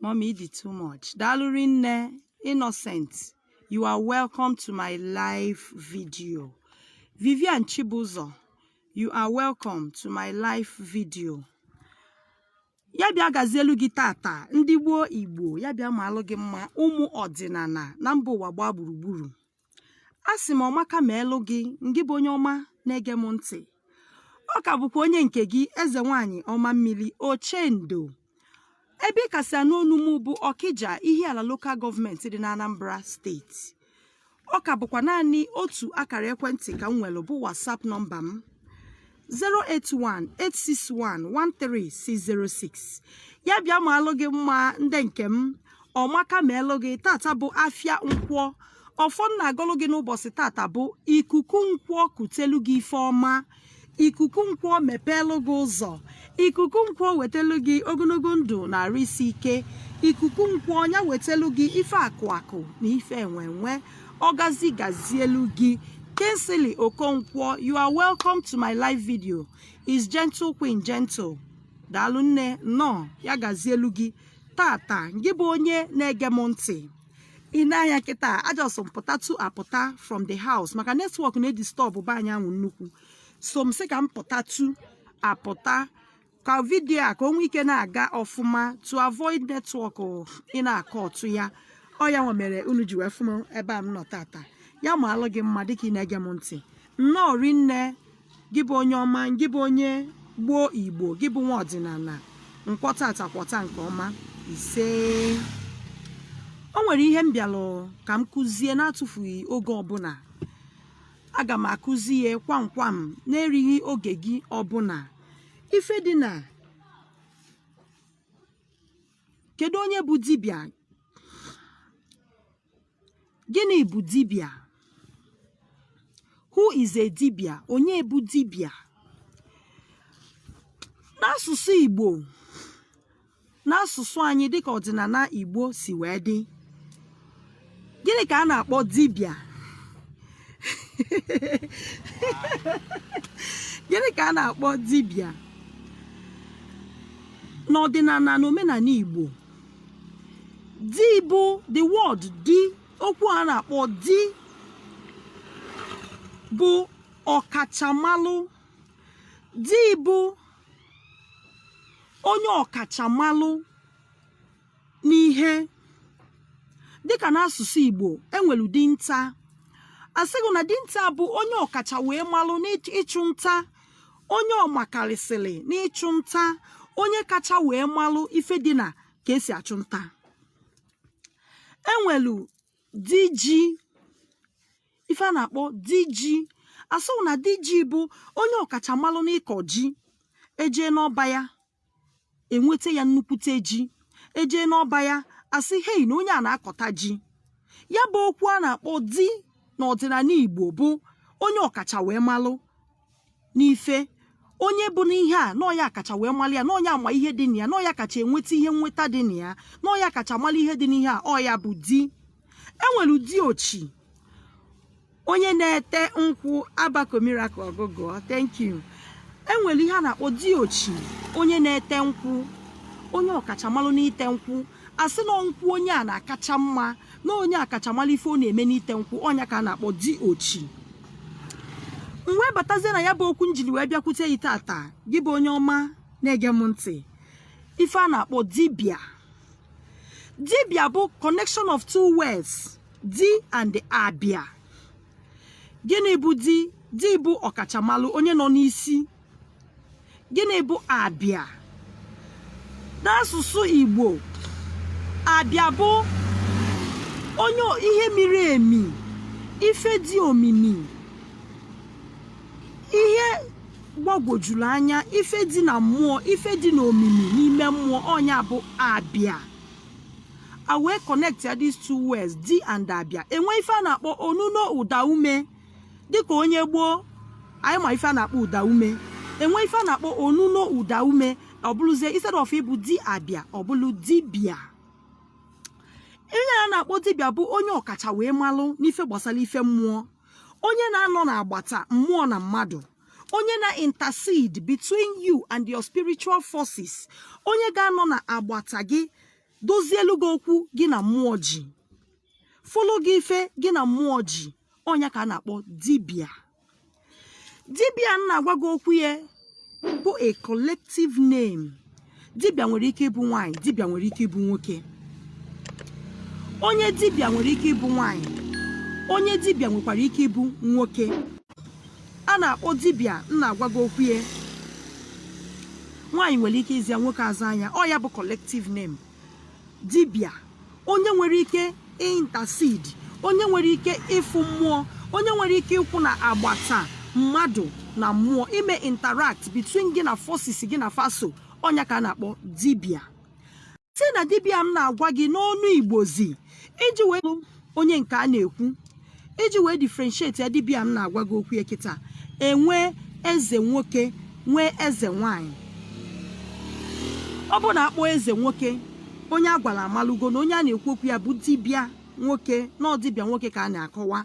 Mommy ị dị too much. Daalụ rinne Innocent. You are welcome to my live video. Vivian Chibuzọ, you are welcome to my live video. ya bịa gazielu gị tata ndị gboo igbo ya bịa maalụ gị mma ụmụ ọdịnala na mba ụwa gbaa gburugburu asị m ọmaka meelụ gị ngị bụ onye ọma na-ege m ntị ọ ka bụkwa onye nke gị eze nwanyị ọma mmiri ochendo ebe ị ka si anụ onu m bụ ọkịja ihiala lokal gọọmenti dị n'anambra steeti ọ ka bụkwa naanị otu akara ekwentị ka m nwere bụ whatsapp nọmba m 08186113606 ya bịa maalụ gị mma ndị nke m ọmaka meelụ gị tata bụ afịa nkwọ ọfọ m na-agọlụ gị n'ụbọchị tata bụ ikuku nkwọ kutelu gị ife ọma ikuku nkwọ mepeelụ gị ụzọ ikuku nkwọ wetelu gị ogologo ndụ na arụ isi ike ikuku nkwọ ya wetelu gị ife akụ akụ na ife enwe enwe Ọgazi gazielu gị. Kingsley Okonkwo, you are welcome to my live video. Is gentle queen gentle. Daalụ nne nnọọ ya gazielu gị tata ngị bụ onye na-ege m ntị. I nee anya kịta a just m pụtatụ apụta from the house maka netwọk na-edistọbụ be anyị anwa nnukwu. So m sị ka m pụtatụ apụta ka vidiyo a ka o nwee ike na-aga ọfụma to avoid netwọk ị na-akọta ya ọ ya nwa mere unu ji wee fụ m ebe a m nọ tata ya maalụ gị mma dịka ị na-ege m ntị nnọọ rinne gị bụ onye ọma gị bụ onye gboo igbo gị bụ nwa ọdịnala nkwọ tata kwọta nke ọma ise o nwere ihe m bịalụ ka m kụzie na-atụfughị oge ọbụla aga m akụzi ya kwamkwam na-erighị oge gị ọbụla ife dị na kedu onye bụ dibịa gịnị bụ dibịa who is a dibịa onye bụ dibịa n'asụsụ Igbo n'asụsụ anyị dịka ọdịnala Igbo si wee dị gịnị ka a na-akpọ dibịa gịnị ka a na-akpọ dibịa n'ọdịnala na omenala Igbo di bụ the word di okwu a na-akpọ di bụ ọkachamalụ di bụ onye ọkachamalụ n'ihe dịka n'asụsụ Igbo enwelu dinta a sị gị na dinta bụ onye ọkacha wee malụ n'ịchụ nta onye ọmakarịsịrị n'ịchụ nta onye kacha wee malụ ife dị na ka esi achụ nta enwelu di ji ife a na-akpọ di ji a sị gị na di ji bụ onye ọkachamalụ n'ịkọ ji ejee n'ọba ya enweta ya nnukwute ji ejee n'ọba ya asị hei na onye a na-akọta ji ya bụ okwu a na-akpọ di n'ọdịnanị Igbo bụ onye ọkacha wee malụ n'ife onye bụ n'ihe a na ọ ya kacha wee malụ ya na ọ ya ama ihe dị na ya na ọ ya kacha enweta ihe nweta dị na ya na ọ ya kacha malụ ihe dị n'ihe a ọ ya bụ di enwelu di ochi onye na-ete nkwụ abako miracle ọgụgụọ thank you enwere ihe a na-akpọ di ochi onye na-ete nkwụ onye ọkachamalụ n'ite nkwụ a sị na nkwụ onye a na-akacha mma na onye a kacha malụ ife ọ na-eme n'ite nkwụ ọ nya ka a na-akpọ di ochi m wee batazie na ya bụ okwu m jiri wee bịakwute gị taata gị bụ onye ọma na-ege m ntị ife a na-akpọ dibịa dibịa bụ connection of two words di and abịa gịnị bụ di di bụ ọkachamalụ onye nọ n'isi gịnị bụ abịa n'asụsụ igbo abịa bụ onye ihe miri emi ife dị omimi ihe gbagwojuru anya ife dị na mmụọ ife dị na omimi n'ime mmụọ ọ nya bụ abịa a wee connect ya these two words di and abịa enwe ife a na-akpọ onuno ụda ume dịka onye igbo anyị ma ife a na-akpọ ụda ume enwe ife a na-akpọ onuno ụda ume ọ bụrụzie instead of ịbụ di abịa ọ bụrụ dibịa onye a na-akpọ dibịa bụ onye ọkacha wee malụ n'ife gbasara ife mmụọ onye na-anọ n'agbata mmụọ na mmadụ onye na-intercede between you and your spiritual forces onye ga-anọ na agbata gị dozielu gị okwu gị na mmụọ ji fụlụ gị ife gị na mmụọ ji ọ nya ka a na-akpọ dibịa dibịa m na-agwa gị okwu ya bụ a collective name dibịa nwere ike ịbụ nwaanyị dibịa nwere ike ịbụ nwoke onye dibịa nwere ike ịbụ nwaanyị onye dibịa nwekwara ike ịbụ nwoke a na-akpọ dibịa m na-agwa gị okwu ya nwaanyị nwere ike ịza ya nwoke azaa nya ọ ya bụ collective name dibịa onye nwere ike intercede onye nwere ike ịfụ mmụọ onye nwere ike ịkwụ n'agbata mmadụ na mmụọ ime interact between gị na forces gị na fa so ọ nya ka a na-akpọ dibịa si na dibịa m na-agwa gị n'ọnụ igbozi iji wee onye nke a na-ekwu iji wee differentiate ya dibịa m na-agwa gị okwu ya kịta e nwee eze nwoke nwee eze nwanyị ọ bụ na a kpọọ eze nwoke onye a gwara amalụgo na onye a na-ekwu okwu ya bụ dibịa nwoke na ọ dibịa nwoke ka a na-akọwa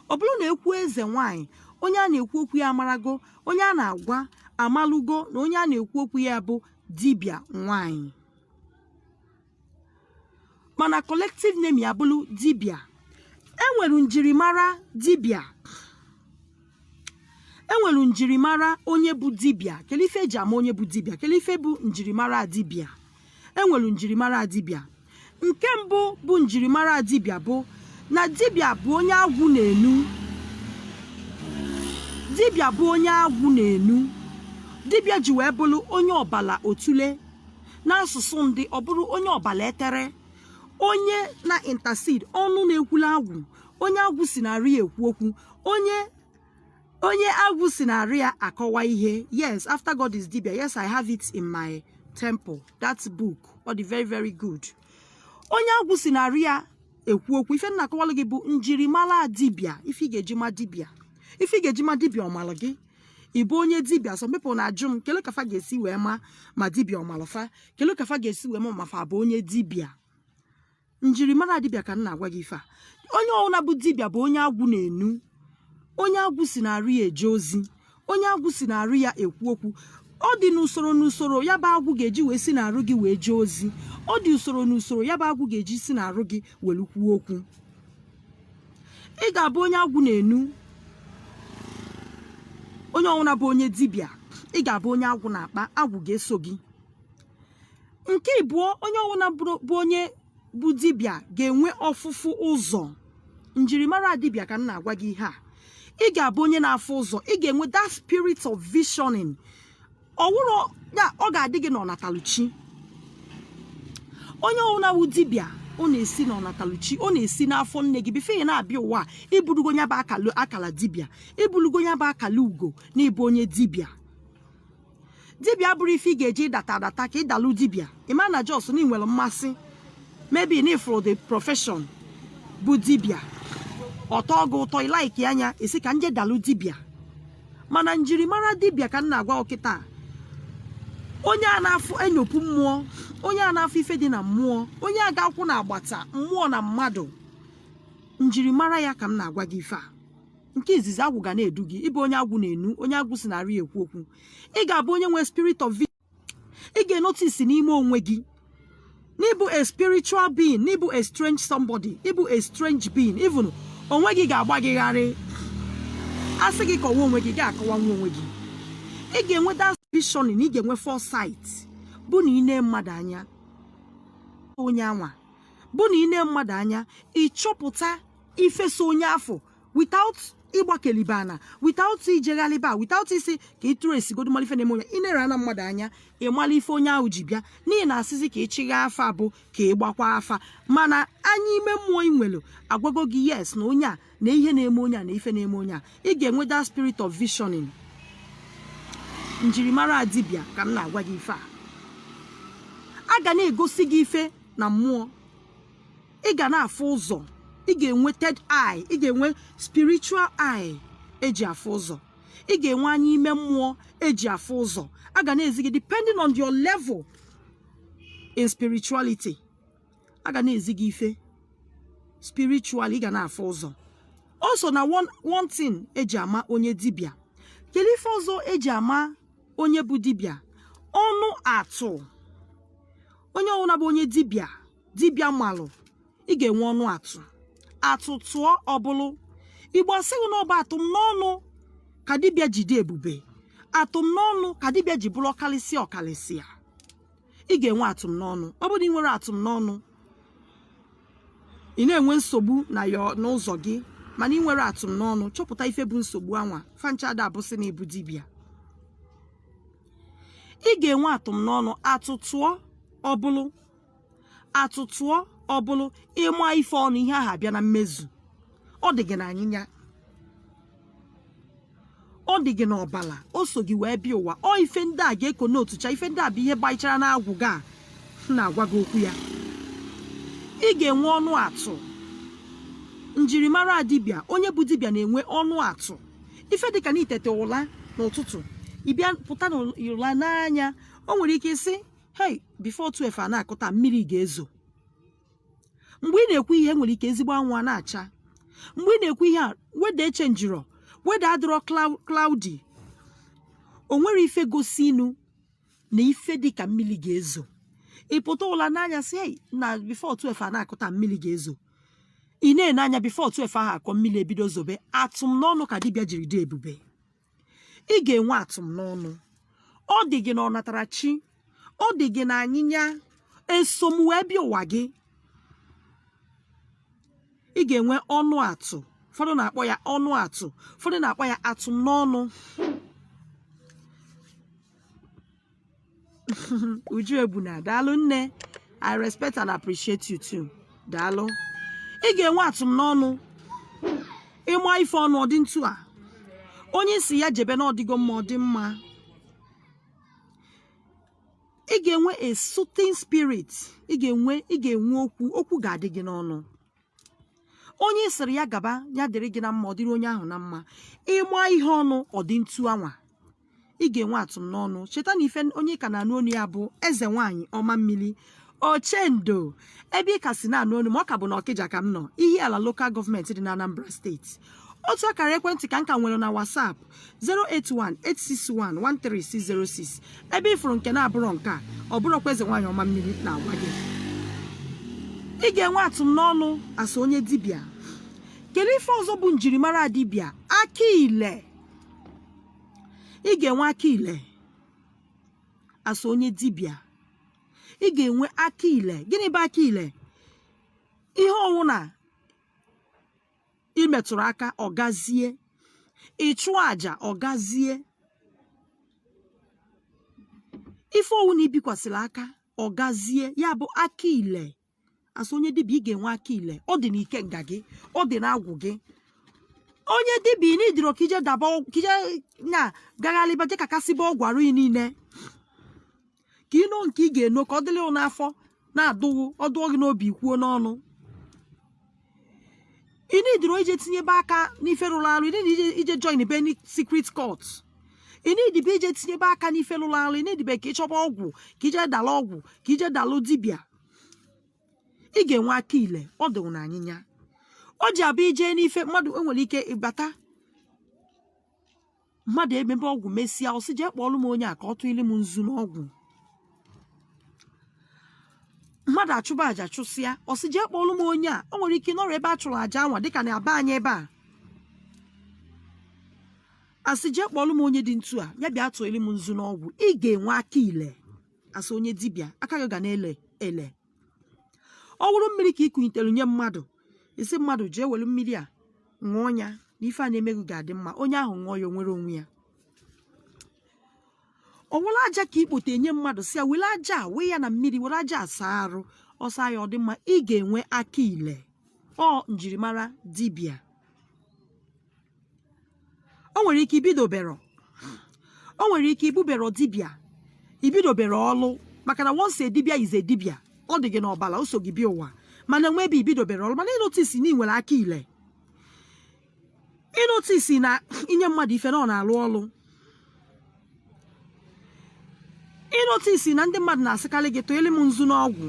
ọ bụrụ na e kwuo eze nwanyị onye a na-ekwu okwu ya amarago onye a na-agwa amalụgo na onye a na-ekwu okwu ya bụ dibịa nwanyị mana collective name ya bụrụ dibịa enwere njirimara dibịa enwere njirimara onye bụ dibịa kele ife eji ama onye bụ dibịa kele ife bụ njirimara dibịa enwere njirimara dibịa nke mbụ bụ njirimara dibịa bụ na dibịa bụ onye agwụ na-enu dibịa bụ onye agwụ na-enu dibịa ji wee bụrụ onye ọbala otule n'asụsụ ndị ọ bụrụ onye ọbala etere onye na intercede ọnụ na-ekwulu agwụ onye agwụ si n'arụ ya ekwu okwu onye agwụ si n'arụ ya akọwa ihe yes after god is dibia yes i have it in my temple that book ọ dị very very good onye agwụ si n'arụ ya ekwu okwu ife m na-akọwalụ gị bụ njirimara dibịa ife ị ga-eji ma dibịa ife ị ga-eji ma dibịa ọ malụ gị ịbụ onye dibịa some people na-ajụ m kele ka fa ga-esi wee ma ma dibịa ọ malụ fa kele ka fa ga-esi wee ma ma fa bụ onye dibịa njirimara dibịa ka m na-agwa gị ife a onye ọwụna bụ dibịa bụ onye agwụ na-enu onye agwụ si n'arụ ya eje ozi onye agwụ si n'arụ ya ekwu okwu ọ dị n'usoro n'usoro ya bụ agwụ ga-eji wee si n'arụ gị wee jee ozi ọ dị usoro n'usoro ya bụ agwụ ga-eji si n'arụ gị were kwuo okwu ị ga-abụ onye agwụ na-enu onye ọwụna bụ onye dibịa ị ga-abụ onye agwụ na-akpa agwụ ga-eso gị nke ịbụọ onye ọwụna bụ onye bụ dibịa ga-enwe ọfụfụ ụzọ njirimara dibịa ka m na-agwa gị ihe a ị ga-abụ onye na-afụ ụzọ ị ga-enwe that spirit of visioning ọ wụrụ ya ọ ga-adị gị n'ọnataluchi onye ọwụna wụ dibịa ọ na-esi n'ọnataluchi ọ na-esi n'afọ nne gị before ị na-abịa ụwa i burugo ya bụ akala akala dibịa i burugo ya bụ akala ugo na ịbụ onye dibịa dibịa abụrọ ife ị ga-eji ịdata adata ka ị dalụ dibịa ị ma na just na ị nwere mmasị maybe na ị fụrụ the profession bụ dibịa ọ tọọ gị ụtọ ị likeịa nya ị sị ka m je dalụ dibịa mana njirimara dibịa ka m na-agwa gị kịtaa onye a na-afụ enyopu mmụọ onye a na-afụ ife dị na mmụọ onye a ga-akwụ na agbata mmụọ na mmadụ njirimara ya ka m na-agwa gị ife a nke izizi agwụ ga na-edu gị ị bụ onye agwụ na-enu onye agwụ si n'arụ ya ekwu okwu ị ga-abụ onye nwee spirit of ị ga-enotisi n'ime onwe gị na ị bụ a spiritual being na ị bụ a strange somebody ị bụ a strange being even onwe gị ga-agba gị gharị a sị gị kọwa onwe gị ga-akọwanwu onwe gị ị ga-enwe that vision na ị ga-enwe foresight bụ na ị nee mmadụ anya onye anwa bụ na ị nee mmadụ anya ị chọpụta ife so onye afụ without ịgbakelibe ana without ijeghalịba without ịsị ka ị tracegodu mara ife na-eme onye ị na-ene mmadụ anya ị mara ife onye ahụ ji bịa n'ihi na a sịzi ka ị chịgha afa bụ ka ị gbakwa afa mana anya ime mmụọ ị nwere agwago gị yes na onye a na ihe na-eme onye a na ife na-eme onye a ị ga-enwe that spirit of visioning njirimara dibịa ka m na-agwa gị ife a a ga na-egosi gị ife na mmụọ ị ga na-afụ ụzọ ị ga-enwe third eye ị ga-enwe spiritual eye eji afụ ụzọ ị ga-enwe anya ime mmụọ eji afụ ụzọ a ga na-ezi gị depending on your level in spirituality a ga na-ezi gị ife spiritual ị ga na-afụ ụzọ o so na one thing eji ama onye dibịa kedu ife ọzọ eji ama onye bụ dibịa ọnụ atụ onye ọwụna bụ onye dibịa dibịa malụ ị ga-enwe ọnụ atụ atụ tụọ ọ bụlụ igbo sịrị na ọ bụ atụm n'ọnụ ka dibịa ji dị ebube atụm n'ọnụ ka dibịa ji bụrụ ọkalịsịa ọkalịsịa ị ga-enwe atụm n'ọnụ ọ bụrụ na ị nwere atụm n'ọnụ ị na-enwe nsogbu n'ụzọ gị mana ị nwere atụm n'ọnụ chọpụta ife bụ nsogbu anwa fa ncha ada abụsị na ị bụ dibịa ị ga-enwe atụm n'ọnụ atụ tụọ ọ bụlụ atụ tụọ ọ bụrụ ị maa ife ọnụ ihe ahụ abịa na mmezu ọ dị gị na anyịnya ọ dị gị n'ọbala o so gị wee bịa ụwa ọ ife ndị a ga-eko n'otu cha ife ndị a bụ ihe gbaichara n'agwụ gị a m na-agwa gị okwu ya ị ga-enwe ọnụ atụ njirimara dibịa onye bụ dibịa na-enwe ọnụ atụ ife dịka na i teta ụla n'ụtụtụ ị bịa pụta n'ụla n'anya o nwere ike ị sị hei before 12 a na-akụ taa mmiri ga-ezo mgbe ị na-ekwu ihe nwere ike ezigbo anwụ a na-acha mgbe ị na-ekwu ihe a weather echenjirọ weather adịrọ clou- cloudy o nwere ife gosinụ na ife dị ka mmiri ga-ezo ị pụta ụla n'anya sị ei na before 12 a na-akụ taa mmiri ga-ezo ị na-ene anya before 12 ahụ akụọ mmiri ebido zobe atụm n'ọnụ ka dibịa jiri dị ebube ị ga-enwe atụm n'ọnụ ọ dị gị na ọnatarachi ọ dị gị na anyịnya esom wee bịa ụwa gị ị ga-enwe ọnụ atụ ụfọdụ na-akpọ ya ọnụ atụ ụfọdụ na-akpọ ya atụm n'ọnụ uju ebuna daalụ nne i respect and appreciate you too daalụ ị ga-enwe atụm n'ọnụ ịma ife ọnụ ọ dị ntu a onye ị sị ya jebe na ọ dịgo mma ọ dị mma ị ga-enwe a soothing spirit ị ga-enwe ị ga-enwe okwu okwu ga-adị gị n'ọnụ onye ị sịrị ya gaba ya dịrị gị na mma ọ dịrị onye ahụ na mma ịma ihe ọnụ ọ dị ntu anwa ị ga-enwe atụm n'ọnụ cheta na ife onye ị ka na-anụ onu ya bụ eze nwaanyị ọma mmiri ochendo ebe ị ka si na-anụ onu ma ọ ka bụ na ọkịja ka m nọ ihiala lokal gọọmenti dị na anambra steeti otu akara ekwentị ka m ka nwere na WhatsApp 08186113606 ebe ị fụrụ nke na-abụrọ nke a ọ bụrọkwa eze nwaanyị ọma mmiri na-agwa gị ị ga-enwe atụm n'ọnụ as a onye dibịa kedu ife ọzọ bụ njirimara dibịa aka ile ị ga-enwe aka ile as a onye dibịa ị ga-enwe aka ile gịnị bụ aka ile ihe ọwụna i metụrụ aka ọ gazie ị chụọ aja ọ gazie ife ọwụna i bikwasịrị aka ọ gazie ya bụ aka ile as onye dibịa ị ga-enwe aka ile ọ dị n'ikenga gị ọ dị n'agwụ gị onye dibịa ị needirọ ka ị je daba ọgwụ- ka ị je na gagharịba je kakasịba ọgwụ arụ gị niile ka i no nke ị ga-eno ka ọ dịrị gị n'afọ na-adụ gị ọ dụọ gị n'obi kwuo n'ọnụ ị needirọ ije tinyebe aka n'ife rụrụ arụ ị needirọ ije joinbe any secret cult ị needibe ije tinyebe aka n'ife rụrụ arụ ị needibe ka ị chọba ọgwụ ka ị je dalụ ọgwụ ka ị je dalụ dibịa ị ga-enwe aka ile ọ dịwụ na anyịnya o ji abịa ije n'ife mmadụ enwere ike ịbata mmadụ emebe ọgwụ mesịa ọ sị jee kpọọlụ m onye a ka ọ tụili m nzu n'ọgwụ mmadụ achụba aja chụsịa ọ sị jee kpọọlụ m onye a o nwere ike ịnọrọ ebe a chụrụ aja anwa dịka na be anyị ebe a a sị jee kpọọlụ m onye dị ntu a ya bịa tụọli m nzu n'ọgwụ ị ga-enwe aka ile as onye dibịa aka gị ga na-ele ele ọ wụrụ mmiri ka i kunitere nye mmadụ ị sị mmadụ jee were mmiri a ṅụọ ya na ife a na-eme gị ga-adị mma onye ahụ ṅụọ ya o nwere onwe ya ọ wụrụ aja ka i kpote enye mmadụ sị ya were aja a wee ya na mmiri were aja a saa arụ ọ saa ya ọ dị mma ị ga-enwe aka ile ọ njirimara dibịa o nwere ike ibidobero o nwere ike ibubero dibịa ibidobero ọlụ maka na once dibịa is a dibịa ọ dị gị n'ọbala o so gị bịa ụwa mana whereby ibidobero ọlụ mana ị notice na ị nwere aka ile ị notice na i nye mmadụ ife na ọ na-alụ ọlụ ị notice na ndị mmadụ na-asịkarị gị tụili m nzu n'ọgwụ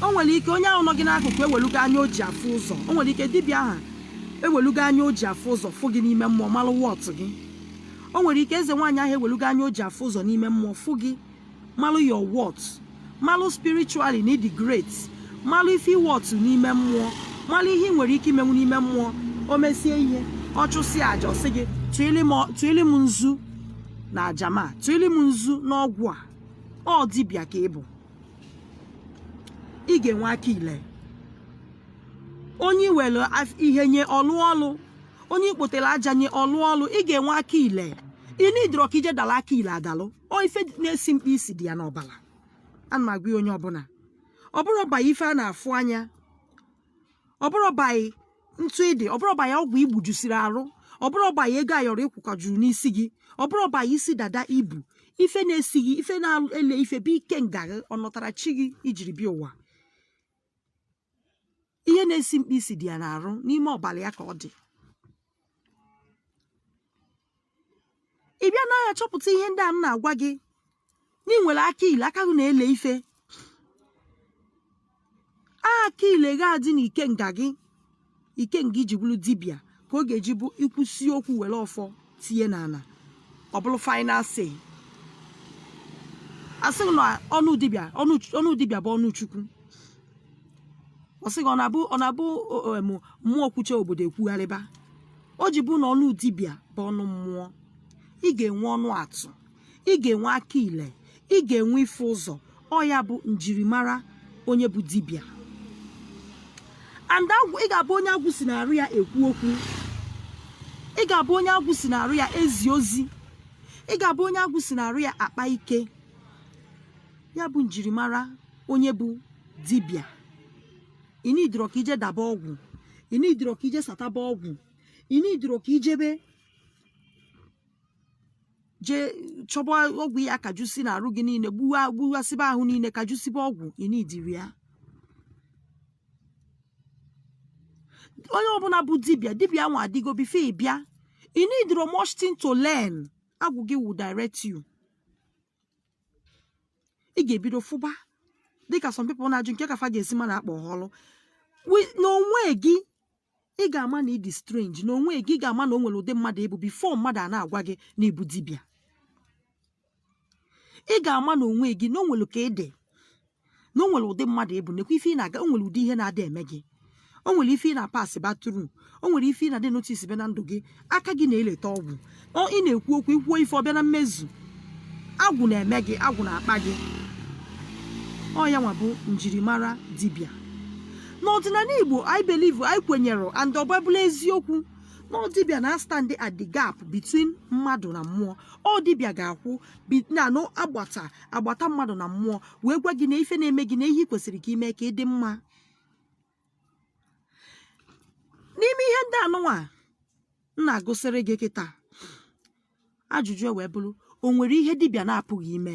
o nwere ike onye ahụ nọ gị n'akụkụ ewelugo anya o ji afụ ụzọ o nwere ike dibịa ahụ ewelugo anya o ji afụ ụzọ fụ gị n'ime mmụọ malụ worth gị o nwere ike eze nwaanyị ahụ ewelugo anya o ji afụ ụzọ n'ime mmụọ fụ gị malụ your worth malụ spiritually na ị dị great malụ ife ị worth n'ime mmụọ malụ ihe ị nwere ike imenwu n'ime mmụọ o mesie ihe ọ chụsịa aja ọ sị gị tụili m ọ- tụili m nzu na aja ma tụili m nzu n'ọgwụ a ọ dibịa ka ị bụ ị ga-enwe aka ile onye i were af- ihe nye ọ lụọ ọlụ onye i kpotere aja nye ọ lụọ ọlụ ị ga-enwe aka ile ị needirọ ka i je dala aka ile adalụ ọ ife na-esi mkpi isi dị ya n'ọbala ana m agwa onye ọbụla ọ bụrọ by ife a na-afụ anya ọ bụrọ by ntụ ị dị ọ bụrọ by ọgwụ i gbujusiri arụ ọ bụrọ by ego ayọrọ ị kwụkọjuru n'isi gị ọ bụrọ by isi dada i bu ife na-esi gị ife na-ele ife bụ ikenga ahụ ọ nọtara chi gị i jiri bịa ụwa ihe na-esi mkpi isi dị ya n'arụ n'ime ọbala ya ka ọ dị ị bịa na ya chọpụta ihe ndị a m na-agwa gị na ị nwere aka ile aka gị na-ele ife aka ile ga-adị n'ikenga gị ikenga i ji bụrụ dibịa ka ọ ga-eji bụ i kwusi okwu were ọfọ tinye n'ala ọ bụrụ final say a sị gị na ọnụ dibịa ọnụ ọnụ dibịa bụ ọnụ chukwu ọ sị gị ọ na-abụ ọ na-abụ o- o- em, mmụọ kwuche obodo ekwugharịba o ji bụ na ọnụ dibịa bụ ọnụ mmụọ ị ga-enwe ọnụ atụ ị ga-enwe aka ile ị ga-enwe ịfụ ụzọ ọ ya bụ njirimara onye bụ dibịa and ị ga-abụ onye agwụ si n'arụ ya ekwu okwu ị ga-abụ onye agwụ si n'arụ ya ezi ozi ị ga-abụ onye agwụ si n'arụ ya akpa ike ya bụ njirimara onye bụ dibịa ị needirọ ka i je daba ọgwụ ị needirọ ka i je sataba ọgwụ ị needirọ ka i jebe jee chọba ọgwụ ya kajusi na arụ gị niile gbuwa gbuwasịba ahụ niile kajusiba ọgwụ ị needirọ ya onye ọbụla bụ dibịa dibịa nwa adịgo before ị bịa ị needirọ much thing to learn agwụ gị will direct you ị ga-ebido fụba dịka some people na-ajụ kee ka fa ga-esi ma na-akpọ ha ọlụ n'onwe gị ị ga-ama na ị dị strange na onwe gị ị ga-ama na o nwere ụdị mmadụ ị bụ before mmadụ a na-agwa gị na ị bụ dibịa ị ga-ama na onwe gị na o nwere ka ị dị na o nwere ụdị mmadụ ị bụ nekwa ife ị na-aga o nwere ụdị ihe na-adị eme gị o nwere ife ị na-apassịba through o nwere ife ị na-adị notice be na ndụ gị aka gị na-eleta ọgwụ ị na-ekwu okwu i kwuo ife ọ bịa na mmezu agwụ na-eme gị agwụ na-akpa gị ọ ya nwa bụ njirimara dibịa n'ọdịnala igbo anyị believe anyị kwenyere and ọ bụbụla eziokwu na ọ dibịa na-astand at the gap between mmadụ na mmụọ ọ dibịa ga-akwụ na agbata mmadụ na mmụọ wee gwa gị na ife na-eme gị na ihe ị kwesịrị ka i mee ka ị dị mma n'ime ihe ndị anụnwa a m na-agụsịrị gị kịta ajụjụ ewee bụrụ o nwere ihe dibịa na-apụghị ime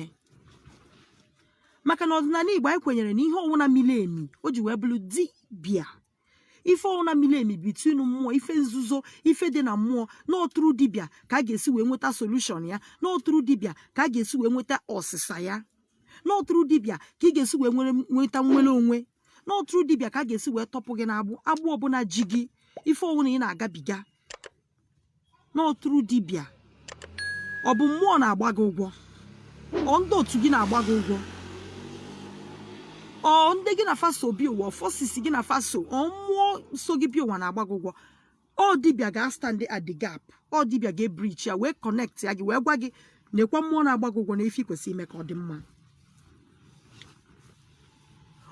maka na ọdịnala igbo anyị kwenyere na ihe ọwụna miri emi o ji wee bụrụ dibịa ife ọwụna miri emi between mmụọ ife nzuzo ife dị na mmụọ na ọ through dibịa ka a ga-esi wee nweta solution ya na ọ through dibịa ka a ga-esi wee nweta ọsịsa ya na ọ through dibịa ka ị ga-esi wee nwere nweta nnwere onwe na ọ through dibịa ka a ga-esi wee tọpụ gị n'agbụ agbụ ọbụla ji gị ife ọwụna ị na-agabiga na ọ through dibịa ọ bụ mmụọ na-agba gị ụgwọ ọ ndị otu gị na-agba gị ụgwọ ọ ndị gị na fa so bịa ụwa forces gị na fa so ọ mmụọ so gị bịa ụwa na-agba gị ụgwọ ọ dibịa ga-astand at the gap ọ dibịa ga-ebridge ya wee connect ya gị wee gwa gị nekwa mmụọ na-agba gị ụgwọ na ife ị kwesịrị ime ka ọ dị mma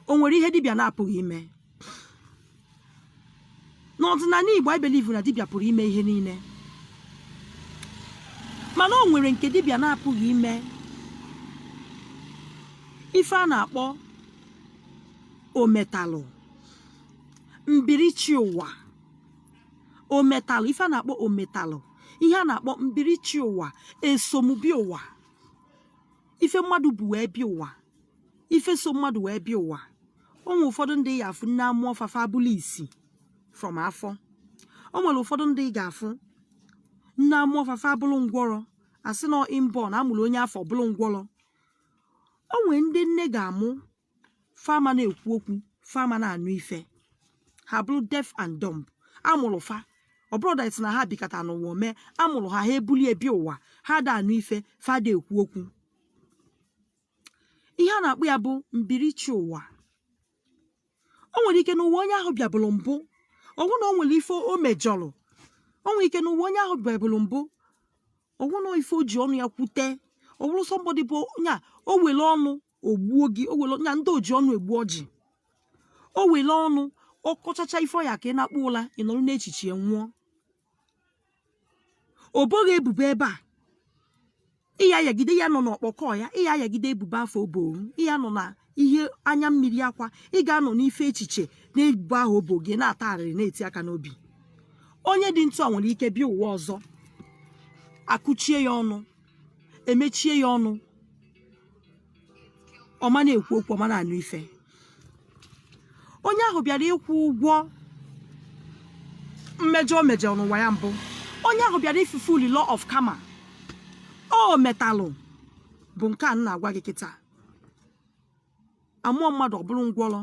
o nwere ihe dibịa na-apụghị ime n'ọdịnala Igbo anyị believe na dibịa pụrụ ime ihe niile mana o nwere nke dibịa na-apụghị ime ife a na-akpọ ometalụ mbirichi ụwa ometalụ ife a na-akpọ ometalụ ihe a na-akpọ mbirichi ụwa eso m bịa ụwa ife mmadụ bu wee bịa ụwa ife so mmadụ wee bịa ụwa o nwere ụfọdụ ndị ị ga-afụ nne amụọ fa fa abụlụ isi from afọ o nwere ụfọdụ ndị ị ga-afụ nne amụọ fa fa abụlụ ngwọrọ as in inborn a mụrụ onye afụ ọ bụlụ ngwọrọ o nwee ndị nne ga-amụ fa ama na-ekwu okwu fa ama na-anụ ife ha abụrụ deaf and dumb a mụrụ fa ọ bụrọ that na ha bikata n'ụwa mee a mụrụ ha ha ebulu ya bịa ụwa ha ada anụ ife fa ada ekwu okwu ihe a na-akpọ ya bụ mbirichi ụwa o nwere ike n'ụwa onye ahụ bịabụrụ mbụ ọ wụ na o nwere ife o mejọrọ o nwere ike n'ụwa onye ahụ bịabụrụ mbụ ọ wụ na ife o ji ọnụ ya kwute ọ bụrụ somebody bụ nya o were ọnụ o gbuo gị o were na ndị oji ọnụ egbu ọjị o were ọnụ ọ kọchacha ife ọ ya ka ị na-akpọ ụla ị nọrọ n'echiche ya nwụọ o bo gị ebubo ebe a ịya yagide ya nọ n'ọkpọkọ ya ịya yagide ebubo afụ o boro ị ya-anọ na ihe anya mmiri akwa ị ga-anọ n'ife echiche n'ebubo ahụ o bo gị na-ata arịrị na-eti aka n'obi onye dị ntu a nwere ike bịa ụwa ọzọ akụchie ya ọnụ emechie ya ọnụ ọ ma na-ekwu okwu ọ ma na-anụ ife onye ahụ bịara ịkwụ ụgwọ mmejọ o mejọrọ n'ụwa ya mbụ onye ahụ bịara ịfulfill law of karma ometalụ bụ nke a m na-agwa gị kịta amụọ mmadụ ọ bụrụ ngwọrọ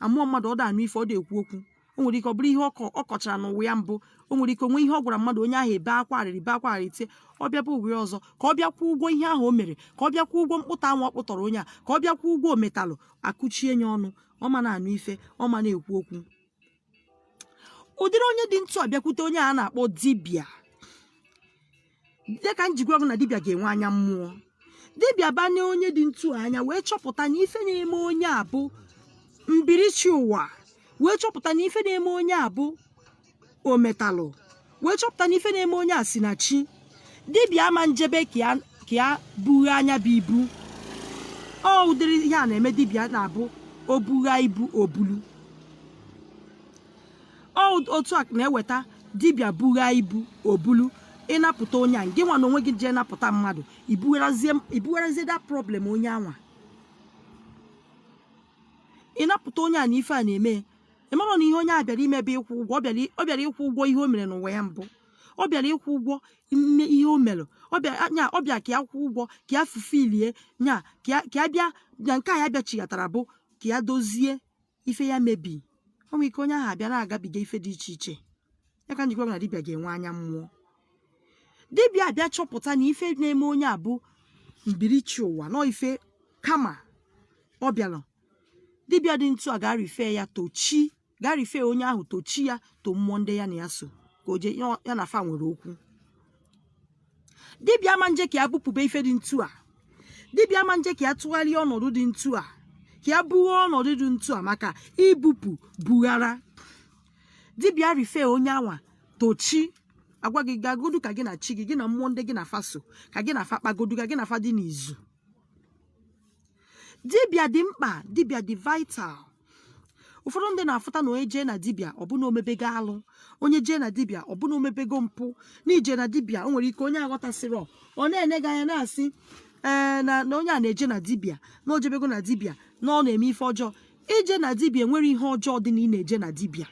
amụọ mmadụ ọ da anụ ife ọ da ekwu okwu o nwere ike ọ bụrụ ihe ọ kọ ọ kọchara n'ụwa ya mbụ o nwere ike o nwee ihe ọ gwara mmadụ onye ahụ ebee akwa arịrị bee akwa arịrị tie ọ bịaba ụwa ya ọzọ ka ọ bịa kwụọ ụgwọ ihe ahụ o mere ka ọ bịa kwụọ ụgwọ mkpụtọ anwa ọ kpụtọrọ onye a ka ọ bịa kwụọ ụgwọ ometalụ akụchie ya ọnụ ọ ma na-anụ ife ọ ma na-ekwu okwu ụdịrị onye dị ntu a bịakwute onye a na-akpọ dibịa ya ka m ji gwa gị na dibịa ga-enwe anya mmụọ dibịa banye onye dị ntu a anya wee chọpụta na ife na-eme onye a bụ mbirichi ụwa wee chọpụta na ife na-eme onye a bụ ometalụ wee chọpụta na ife na-eme onye a si na chi dibịa ama njebe ka ya bugha nya bụ ibu ọ ụdịrị ihe a na-eme dibịa na-abụ o bugha ibu o bulu otu a na-eweta dibịa bugha ibu o bulu ị napụta onye a gị nwa na onwe gị jee napụta mmadụ i bugharazie the problem onye anwa ị napụta onye a na ife a na-eme ị mara na ihe onye a bịara ime bụ ịkwụ ụgwọ ọ bịara ọ bịara ịkwụ ụgwọ ihe o mere n'ụwa ya mbụ ọ bịara ịkwụ ụgwọ n'ihe o mere ọ bịa nya ọ bịa ka ya kwụọ ụgwọ ka ya fulfillie nya ka ya ka ya bịa na nke a ya bịachighatara bụ ka ya dozie ife ya mebi o nwere ike onye ahụ abịa na-agabiga ife dị iche iche ya ka m ji gwa gị na dibịa ga-enwe anya mmụọ dibịa abịa chọpụta na ife na-eme onye a bụ mbirichi ụwa na ọ ife karma ọ bịara dibịa dị ntu a ga-arefer ya to chi ga-arefer onye ahụ to chi ya to mmụọ ndị ya na ya so ka o jee ya- ya na fa nwere okwu dibịa ma nje ka ya bupụba ife dị ntu a dibịa ma nje ka ya tụgharịa ọnọdụ dị ntu a ka ya bugha ọnọdụ dị ntu a maka ibupụ bughara dibịa refer onye anwa to chi agwa gị gagodu ka gị na chi gị gị na mmụọ ndị gị na fa so ka gị na fa kpagodu ka gị na fa dị n'izu dibịa dị mkpa dibịa dị vital ụfọdụ ndị na-afụta na onye jee na dibịa ọ bụ na o mebego alụ onye jee na dibịa ọ bụ na o mebego mpụ na ije na dibịa o nwere ike onye aghọtasịrọ ọ na-ene gị anya na-asị ee na na onye a na-eje na dibịa na o jebego na dibịa na ọ na-eme ife ọjọọ ije na dibịa enwerọ ihe ọjọọ dị na ị na-eje na dibịa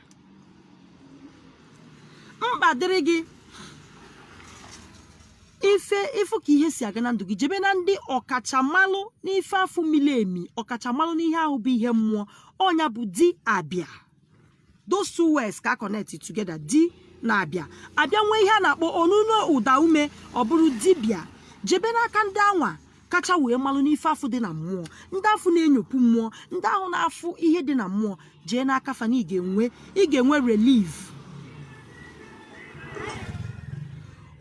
mkpa dịrị gị ịfụ ka ihe si aga na ndụ gị jebe na ndị ọkachamalụ n'ife afụ mili emi ọkachamalụ n'ihe ahụ bụ ihe mmụọ ọ nya bụ di abịa those two words ka connect together di na abịa a bịa nwee ihe a na-akpọ onuno ụdaume ọ bụrụ dibịa jebe n'aka ndị anwa kacha wee malụ n'ife afụ dị na mmụọ ndị afụ na-enyopụ mmụọ ndị ahụ na-afụ ihe dị na mmụọ jee n'aka fa na ị ga-enwe ị ga-enwe relief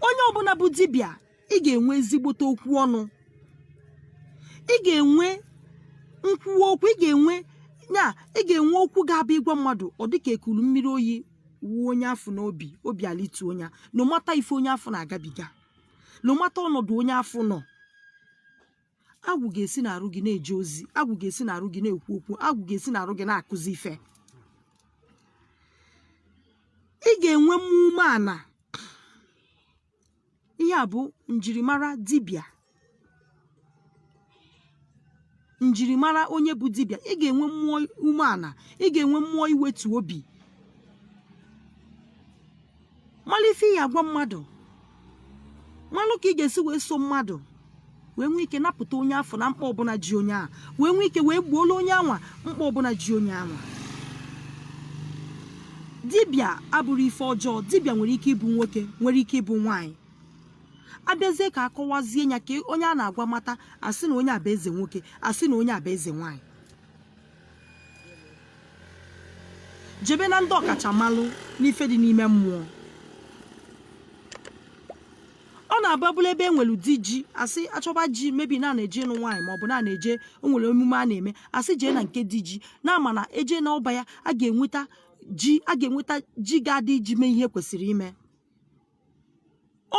onye ọbụna bụ dibịa ị ga-enwe ezigbote okwu ọnụ ị ga-enwe nkwuwa okwu ị ga-enwe ya ị ga-enwe okwu ga-abụ ị gwa mmadụ ọ dị ka e kulu mmiri oyi wụọ onye afụ n'obi obi alịtu onye nọ mata ife onye afụ na-agabiga nọ mata ọnọdụ onye afụ nọ agwụ ga-esi n'arụ gị na-eje ozi agwụ ga-esi n'arụ gị na-ekwu okwu agwụ ga-esi n'arụ gị na-akụzi ife ị ga-enwe mmụọ umeana ihe a bụ njirimara dibịa njirimara onye bụ dibịa ị ga-enwe mmụọ umeana ị ga-enwe mmụọ iwetu obi malụ ife ị ya-agwa mmadụ malụ ka ị ga-esi wee so mmadụ wee nwee ike napụta onye afụ na mkpa ọbụna ji onye ahụ wee nwee ike wee gboola onye anwa mkpa ọbụna ji onye anwa dibịa abụrọ ife ọjọọ dibịa nwere ike ịbụ nwoke nwere ike ịbụ nwaanyị a bịazie ka a kọwazie ya ka onye a na-agwa mata a sị na onye a bụ eze nwoke a sị na onye a bụ eze nwaanyị jebe na ndị ọkachamalụ n'ife dị n'ime mmụọ ọ na-abụ ọ bụlụ ebe e nwere di ji a sị a chọba ji maybe na a na-eje ịnụ nwaanyị maọbụ na a na-eje o nwere emume a na-eme a sị jee na nke di ji na a ma na e jee n'ọba ya a ga-enweta ji a ga-enweta ji ga-adị iji mee ihe kwesịrị ime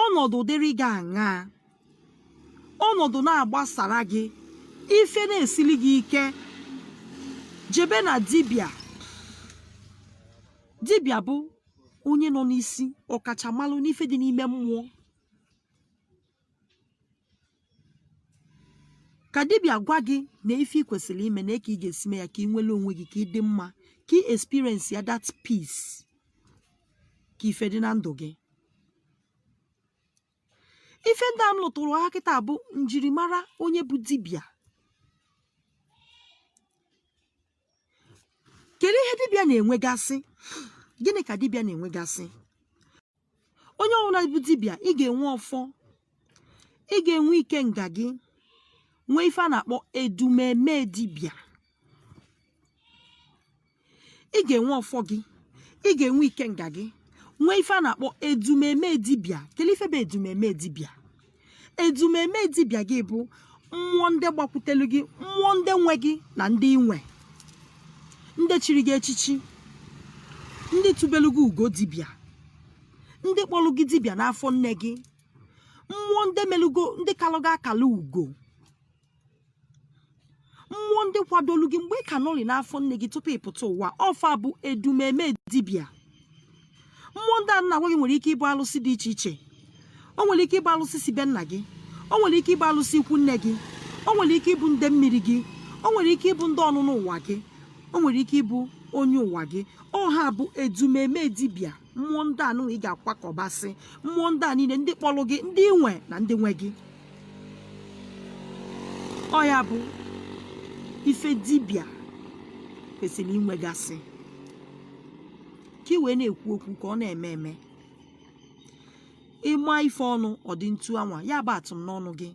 ọnọdụ dịrị gị aṅaa ọnọdụ na-agbasara gị ife na-esili gị ike jebe na dibịa dibịa bụ onye nọ n'isi ọkachamalụ n'ife dị n'ime mmụọ ka dibịa gwa gị na ife ị kwesịrị ime na ka ị ga-esi mee ya ka ị nwere onwe gị ka ị dị mma ka ị experience ya that peace ka ife dị na ndụ gị ife ndị a m lụtụrụ ha kịta bụ njirimara onye bụ dibịa kedu ihe dibịa na-enwegasị gịnị ka dibịa na-enwegasị onye ọbụla bụ dibịa ị ga-enwe ọfọ ị ga-enwe ikenga gị nwee ife a na-akpọ edumeme dibịa ị ga-enwe ọfọ gị ị ga-enwe ikenga gị nwee ife a na-akpọ edumeme dibịa kedu ife bụ edumeme dibịa edumeme dibịa gị bụ mmụọ ndị gbakwutelu gị mmụọ ndị nwe gị na ndị i nwe ndị chiri gị echichi ndị tụbelu gị ugo dibịa ndị kpọlụ gị dibịa n'afọ nne gị mmụọ ndị melugo ndị kalụ gị akala ugo mmụọ ndị kwadolu gị mgbe ị ka nọrị n'afọ nne gị tupu ị pụta ụwa ọ fa bụ edumeme dibịa mmụọ ndị a m na-agwa gị nwere ike ịbụ alụsị dị iche iche o nwere ike ịbụ alụsị si be nna gị o nwere ike ịbụ alụsị ikwu nne gị o nwere ike ịbụ nde mmiri gị o nwere ike ịbụ ndị ọnụnụ ụwa gị o nwere ike ịbụ onye ụwa gị ọ ha bụ edumeme dibịa mmụọ ndị a nụnwa ị ga-akwakọbasị mmụọ ndị a niile ndị kpọlụ gị ndị i nwe na ndị nwe gị ọ ya bụ ife dibịa kwesịrị inwegasị ka ị wee na-ekwu okwu ka ọ na-eme eme ị ma ife ọnụ ọ dị etu anwa ya bụ atụm n'ọnụ gị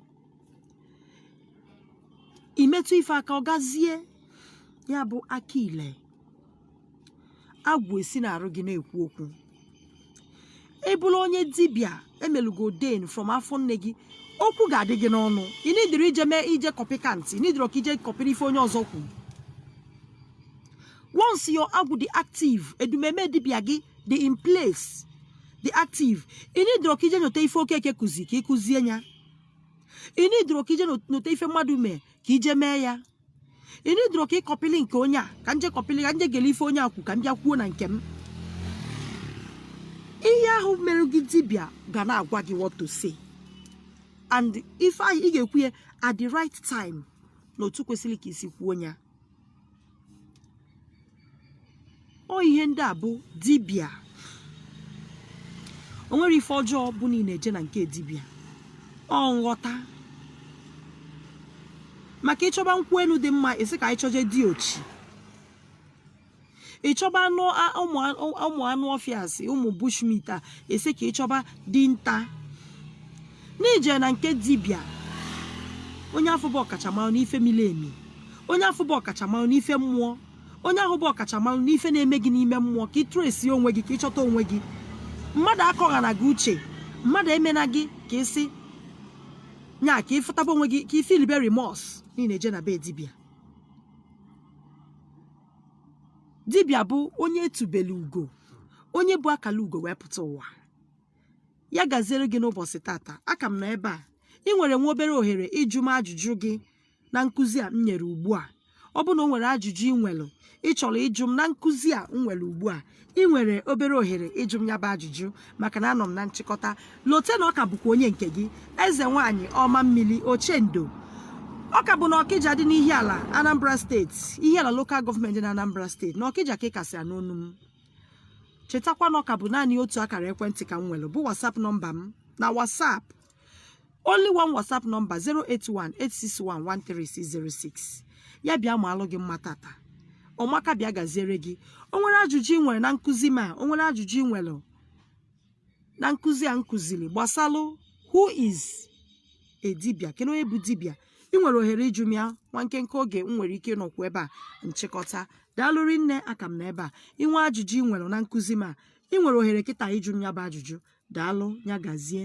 i metụ ife aka ọ gazie ya bụ aka ile agwụ esi n'arụ gị na-ekwu okwu ị bụrụ onye dibịa e melu gị ordain from afọ nne gị okwu ga-adị gị n'ọnụ ị needirọ ije mee ije copycat ị needirọ ka i je copyrị ife onye ọzọ kwuru once your agwụ dị active edumeme dibịa gị dị in place dị active ị needirọ ka i je nyote ife okeke kụzi ka ị kụzie ya ị needirọ ka i je nyote ife mmadụ mee ka i je mee ya ị needirọ ka ị copylị nke onye a ka m je copylị ka m je gele ife onye a kwu ka m bịa kwuo na nke m ihe ahụ mere gị dibịa ga na-agwa gị what to say and ife ahụ ị ga-ekwu ya at the right time n'otu kwesịrị ka i si kwuo ya ọ ihe ndị a bụ dibịa o nwere ife ọjọọ bụ na ị na-eje na nke dibịa ọ nghọta maka ị chọba nkwụ enu dị mma a sị ka anyị chọje diochi ị chọba anụ a- ụmụ a- ụmụ anụ ọfịa asị ụmụ bush meat a a sị ka ị chọba dinta n'ije na nke dibịa onye afụ bụ ọkachamara n'ife miri emi onye afụ bụ ọkachamara n'ife mmụọ onye ahụ bụ ọkachamara n'ife na-eme gị n'ime mmụọ ka ị trace onwe gị ka ị chọta onwe gị mmadụ akọghana gị uche mmadụ emena gị ka ị sị nya ka ị fụtaba onwe gị ka ị feelibe remorse na ị na-eje na be dibịa dibịa bụ onye e tubelu ugo onye bu akala ugo wee pụta ụwa ya gaziere gị n'ụbọsị tata a ka m nọ ebe a ị nwere nwa obere ohere ịjụ m ajụjụ gị na nkụzi a m nyere ugbu a ọ bụ na o nwere ajụjụ ị nwere ị chọrọ ịjụ m na nkụzi a m nwere ugbu a ị nwere obere ohere ịjụ m ya bụ ajụjụ maka na anọ m na nchịkọta lote na ọ ka bụkwa onye nke gị eze nwaanyị ọma mmiri ochendo ọ ka bụ na ọkịja dị n'ihiala anambra steeti ihiala local government na anambra steeti na ọkịja ka ị ka si anụ onu m chetakwa na ọ ka bụ naanị otu akara ekwentị ka m nwere bụ WhatsApp nọmba m na WhatsApp only one WhatsApp number 08186113606 ya bịa maalụ gị mma tata ọ maka bịa gaziere gị o nwere ajụjụ ị nwere na nkụzi m a o nwere ajụjụ ị nwere na nkụzi a m kụziri gbasalụ who is a dibịa kedu onye bụ dibịa ị nwere ohere ịjụ m ya nwa nkenke oge m nwere ike ịnọkwu ebe a nchịkọta daalụ rinne a ka m nọ ebe a ị nwee ajụjụ ị nwere na nkụzi m a ị nwere ohere kịta ịjụ m ya bụ ajụjụ daalụ ya gazie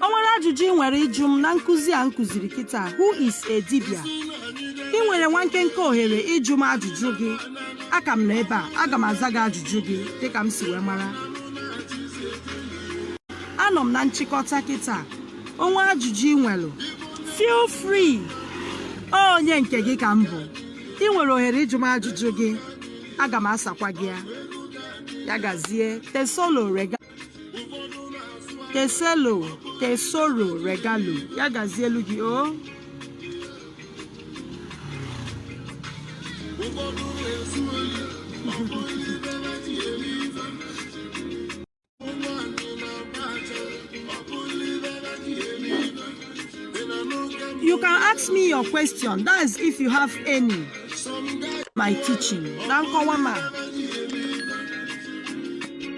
o nwere ajụjụ ị nwere ịjụ m na nkụzi a m kụziri kịta who is a dibịa ị nwere nwa nkenke ohere ịjụ m ajụjụ gị a ka m nọ ebe a aga m aza gị ajụjụ gị dịka m si wee mara anọ m na nchịkọta kịta o nwee ajụjụ ị nwere feel free onye nke gị ka m bụ ị nwere ohere ịjụ m ajụjụ gị aga m asakwa gị ya ya gazie tesolo rega teselo tesoro regalo ya gazie elu gị o you can ask me your question that is if you have any my teaching na nkọwa ma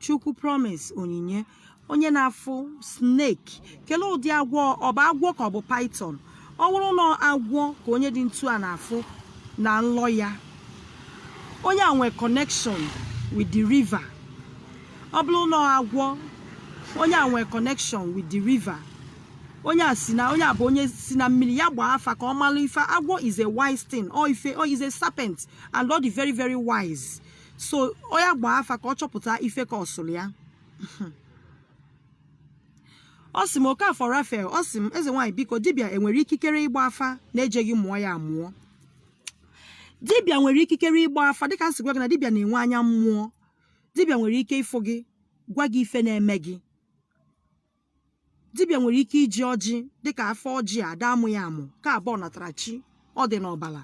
chukwu promise onyinye onye na-afụ snake kelee ụdị agwọ ọ bụ agwọ ka ọ bụ python ọ bụrụ na agwọ ka onye dị ntu a na-afụ na nlọ ya onye a nwee connection with the river ọ bụrụ na agwọ onye a nwee connection with the river onye a si na onye a bụ onye si na mmiri ya gbaa afa ka ọ mara ife agwọ is a wise thing or ife or is a serpent and ọ dị very very wise so nya gbaa afa ka ọ chọpụta ife kọsụrụ ya ọ sị m Okafor Raphael ọ sị m eze nwaanyị biko dibịa enwere ikikere ịgba afa na-ejeghị mụọ ya amụọ dibịa nwere ikikere ịgba afa dịka m si gwa gị na dibịa na-enwe anya mmụọ dibịa nwere ike ịfụ gị gwa gị ife na-eme gị dibịa nwere ike iji ọjị dịka afa ọjị ada amụ ya amụ ka ọ bụ ọnatarachi ọ dị n'ọbala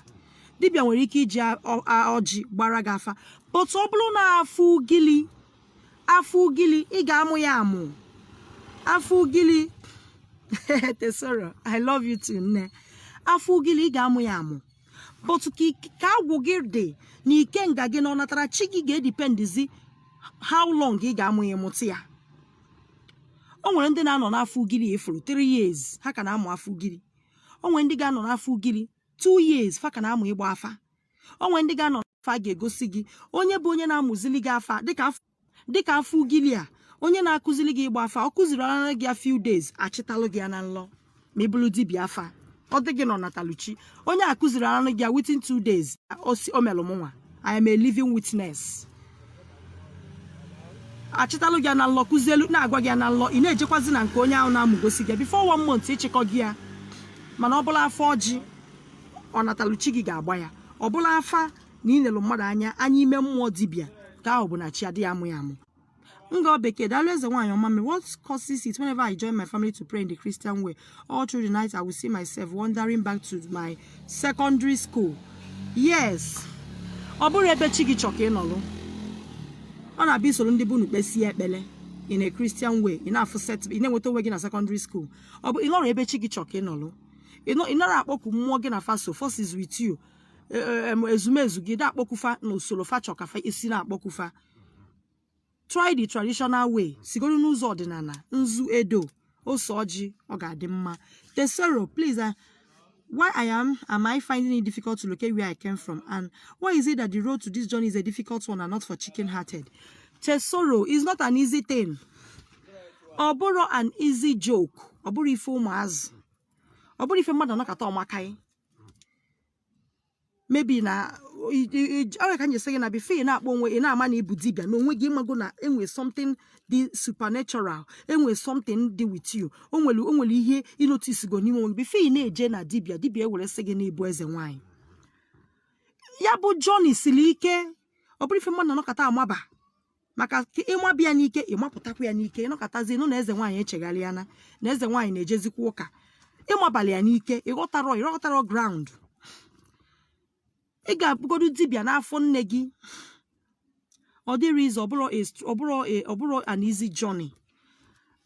dibịa nwere ike iji a- ọ- a- ọjị gbara gị afa but ọ bụrụ na afa ugili afa ugili ị ga-amụ ya amụ afa ugili tesoro i love you too nne afa ugili ị ga-amụ ya amụ but ka ik- ka agwụ gị dị na ikenga gị na ọnatarachi gị ga-edipendizi how long ị ga-amụ ya mụta ya o nwere ndị na-anọ n'afa ugiri ife ruru 3 years ha ka na-amụ afa ugiri o nwere ndị ga-anọ n'afa ugiri 2 years fa ka na-amụ ịgba afa o nwere ndị ga-anọ n'afa a ga-egosi gị onye bụ onye na-amụzili gị afa dịka afa dịka afa ugili a onye na-akụzili gị ịgba afa ọ kụzirila gị ya few days a chịtalụ gị ya na nlọ ma ị bụrụ dibịa afa ọ dị gị n'ọnataluchi onye a kụziri anụ gị within two days o melụ mụnwa I am a living witness a chịtalụ gị na nlọ kụzielu na-agwa gị na nlọ ị na-ejekwazi na nke onye ahụ na-amụgosi gị bifo one month ịchịkọ gị ya mana ọ bụlụ afa ọjị ọnataluchi gị ga-agba ya ọ bụlụ afa na ị nelu mmadụ anya anya ime mmụọ dibịa ka ahụ bụ na chi adịghị amụ ya amụ Ngo Bekee, daalụ eze nwaanyị ọma m. What causes it whenever I join my family to pray in the Christian way? All through the night, I will see myself wandering back to my secondary school. Yes. Ọ bụrọ ebe chi gị chọ ka ị nọlụ. Ọ na-abụ i soro ndị be unu kpesie ekpele in a Christian way. Ị na-afụ set, ị na-enweta onwe gị na secondary school. Ọ bụ ị nọrọ ebe chi gị chọ ka ị nọlụ. Ị nọ- ị narọ akpọku mmụọ gị na fa so, forces with you. E- e- em, Ezumezu gị da-akpọku fa na usoro fa chọ ka fa i si na-akpọku fa. try the traditional way sigodu n'ụzọ ọdịnala nzu edo ose ọjị ọ ga-adị mma tesoro please uh, why i am am i finding it difficult to locate where i came from and why is it that the road to this journey is a difficult one and not for chicken hearted tesoro is not an easy thing ọ bụrọ an easy joke ọ bụrọ ife ụmụazụ ọ bụrọ ife mmadụ nọkata ọmakaị maybe na ọ ya ka m ji sị gị na bifo ị na-akpọ onwe ị na-ama na ị bụ dibịa n'onwe gị ị mago na enwe something dị supernatural enwe something dị with you o nwere o nwere ihe ị notisigo n'ime onwe gị bifo ị na-eje na dibịa dibịa ewere sị gị na ị bụ eze nwaanyị ya bụ journey siri ike ọ bụrọ ife mmadụ nọkata amaba maka ị maba ya n'ike ị mapụtakwa ya n'ike ị nọkatazie nụ na eze nwaanyị echegharịana na eze nwaanyị na-ejezikwa ụka ị mabalụ ya n'ike ịghọtarọ ịghọtarọ ground ị ga-abụgodu dibịa n'afọ nne gị ọ dịrọ easy ọ bụrọ ọ bụrọ ọ bụrọ an easy journey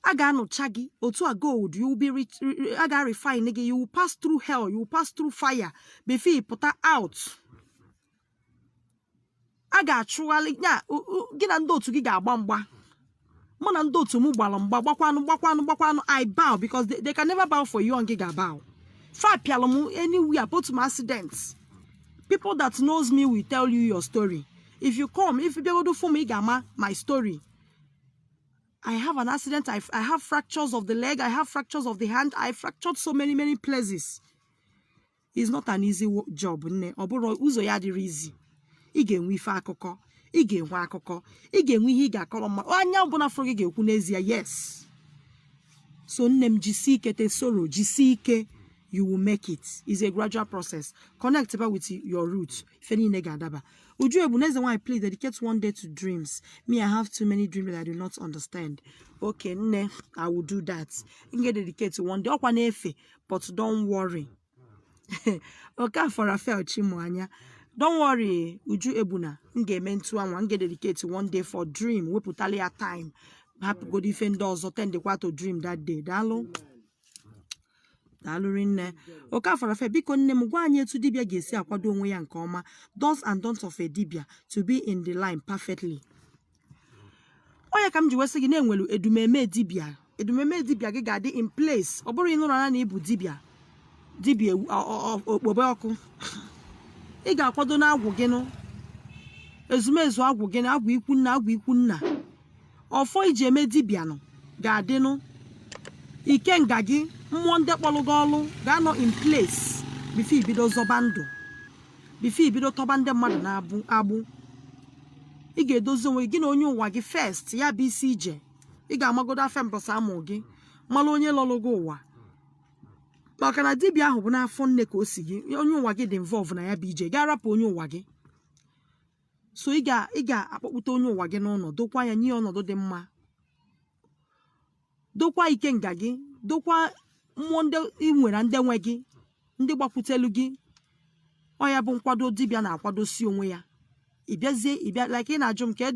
a ga-anụcha gị otu a gold you will be rich- ri- ri- a ga-refine gị you will pass through hell you will pass through fire before ị pụta out a ga-achụgharịa gị na ndị otu gị ga-agba mgba mụ na ndị otu m gbara mgba gbakwanụ gbakwanụ gbakwanụ i bow because they, they can never bow for you ngị ga-abow fa pịalụ m anywhere both my accident people that knows me will tell you your story if you come if you bịagodo fụ m ị ga-ama my story I have an accident. I, I have fractures of the leg. I have fractures of the hand. I fractured so many, many places. is not an easy wo- job nne ọ bụrọ ụzọ ya adịrọ easy ị ga-enwe ife akụkọ ị ga-enwe akụkọ ị ga-enwe ihe ị ga-akọrọ ma onye ọbụla fụrụ gị ga-ekwu n'ezie yes so nne m jisi ike Tesoro jisi ike you will make it is a gradual process connect ba with your root ife niile ga-adaba Uju Egbuna eze nwaanyị please dedicate one day to dreams me i have too many dreams that i do not understand okay nne i will do that m ga-dedicate one day ọkwa na-efe but don't worry Okafor Raphael Chimuanya don't worry Uju Egbuna m ga-eme etu anwa m ga-dedicate one day for dream wepụtalụ ya time hapụgodo ife ndị ọzọ attendkwa to dream that day daalụ daalụ rinne Okafor Raphael biko nne m gwa anyị etu dibịa ga-esi akwado onwe ya nke ọma do's and don'ts of a dibịa to be in the line perfectly ọ ya ka m ji wee sị gị na e nwere edumeme dibịa edumeme dibịa gị ga-adị in place ọ bụrụ ịnụrụ anya na ị bụ dibịa dibịa ewu- ọ- ọ- ọ- okpobe ọkụ ị ga-akwado na agwụ gị nụ ezumezu agwụ gị na agwụ ikwu nna agwụ ikwu nna ọfọ i ji eme dibịa nụ ga-adịnụ ikenga gị mmụọ ndị kpọrọ gị ọlụ ga-anọ in place before i bido zọba ndụ before i bido tọba ndị mmadụ n'agbụ ị ga-edozi onwe gị na onye ụwa gị first ya bụ isi ije ị ga-amagodo afọ mbọsị a mụ gị mara onye lọrụ gị ụwa maka na dibịa ahụ bụ n'afọ nne ka o si gị onye ụwa gị dị involve na ya bụ ije ga-arapụ onye ụwa gị so ị ga-akpọkpụta onye ụwa gị n'ụnọ dokwa ya nye ọnọdụ dị mma dokwa ikenga gị dokwa mmụọ ndị ị nwere ndị nwe gị ndị gbakwutelu gị ọ ya bụ nkwado dibịa na-akwadosi onwe ya ị bịazie ị bịa like ị na-ajụ m ka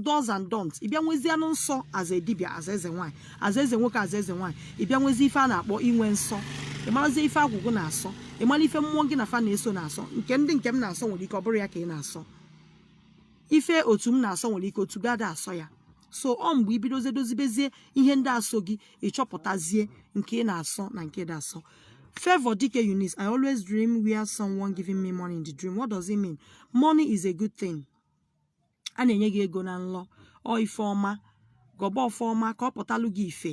do's and don'ts ị bịa nwezie anụ nsọ as a dibịa as eze nwaanyị as eze nwoke as eze nwaanyị ị bịa nwezie ife a na-akpọ inwe nsọ ị marazie ife agwụ gị na-asọ ị mara ife mmụọ gị na fa na-eso na-asọ nke ndị nke m na-asọ nwere ike ọ bụrọ ya ka ị na-asọ ife otu m na-asọ nwere ike otu gị ada asọ ya so ọ mgbe i bidozie dozibezie ihe ndị a so gị ị chọpụtazie nke ị na-asọ na nke ị da asọ Favor Dike Eunice, I always dream where someone giving me money in the dream. What does it mean? Money is a good thing. A na-enye gị ego na nlọ, ọ ife ọma, gọba ọfọ ọma ka ọ pụtalụ gị ife.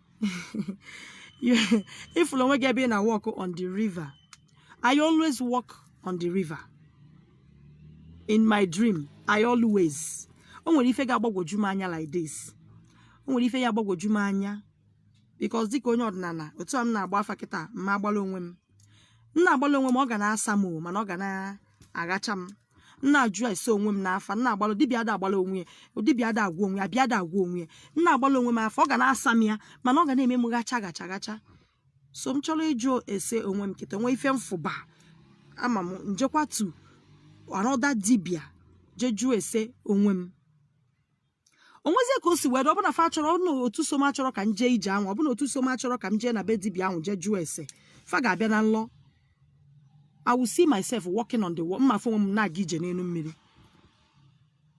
ị fụlụ onwe gị ebe ị na walk on the river I always walk on the river in my dream I always o nwere ife ga-agbagwoju m anya like this o nwere ife ga-agbagwoju m anya because dịka onye ọdịnala otu a m na-agba afa kịta m ma agbala onwe m m na-agbala onwe m ọ ga na-asa m o mana ọ ga na-aghacha m m na-ajụ ese onwe m n'afa m na-agbalụ dibịa ada agbala onwe ya dibịa ada agwọ onwe ya dibịa ada agwọ onwe ya m na-agbalụ onwe m afa ọ ga na-asa m ya mana ọ ga na-eme m ghacha ghacha ghacha so m chọrọ ịjụ ese onwe m kịta nwee ife m fụba ama m njekwatu another dibịa jee jụọ ese onwe m o nwezie ka o si wee dị ọbụna fa chọrọ ọbụna otu so m achọrọ ka m jee ije ahụ ọbụna otu so m achọrọ ka m jee na be dibia ahụ jee jụọ ese fa ga-abịa na nlọ I will see myself walking on the wall m ma afụ onwe m na-aga ije n'elu mmiri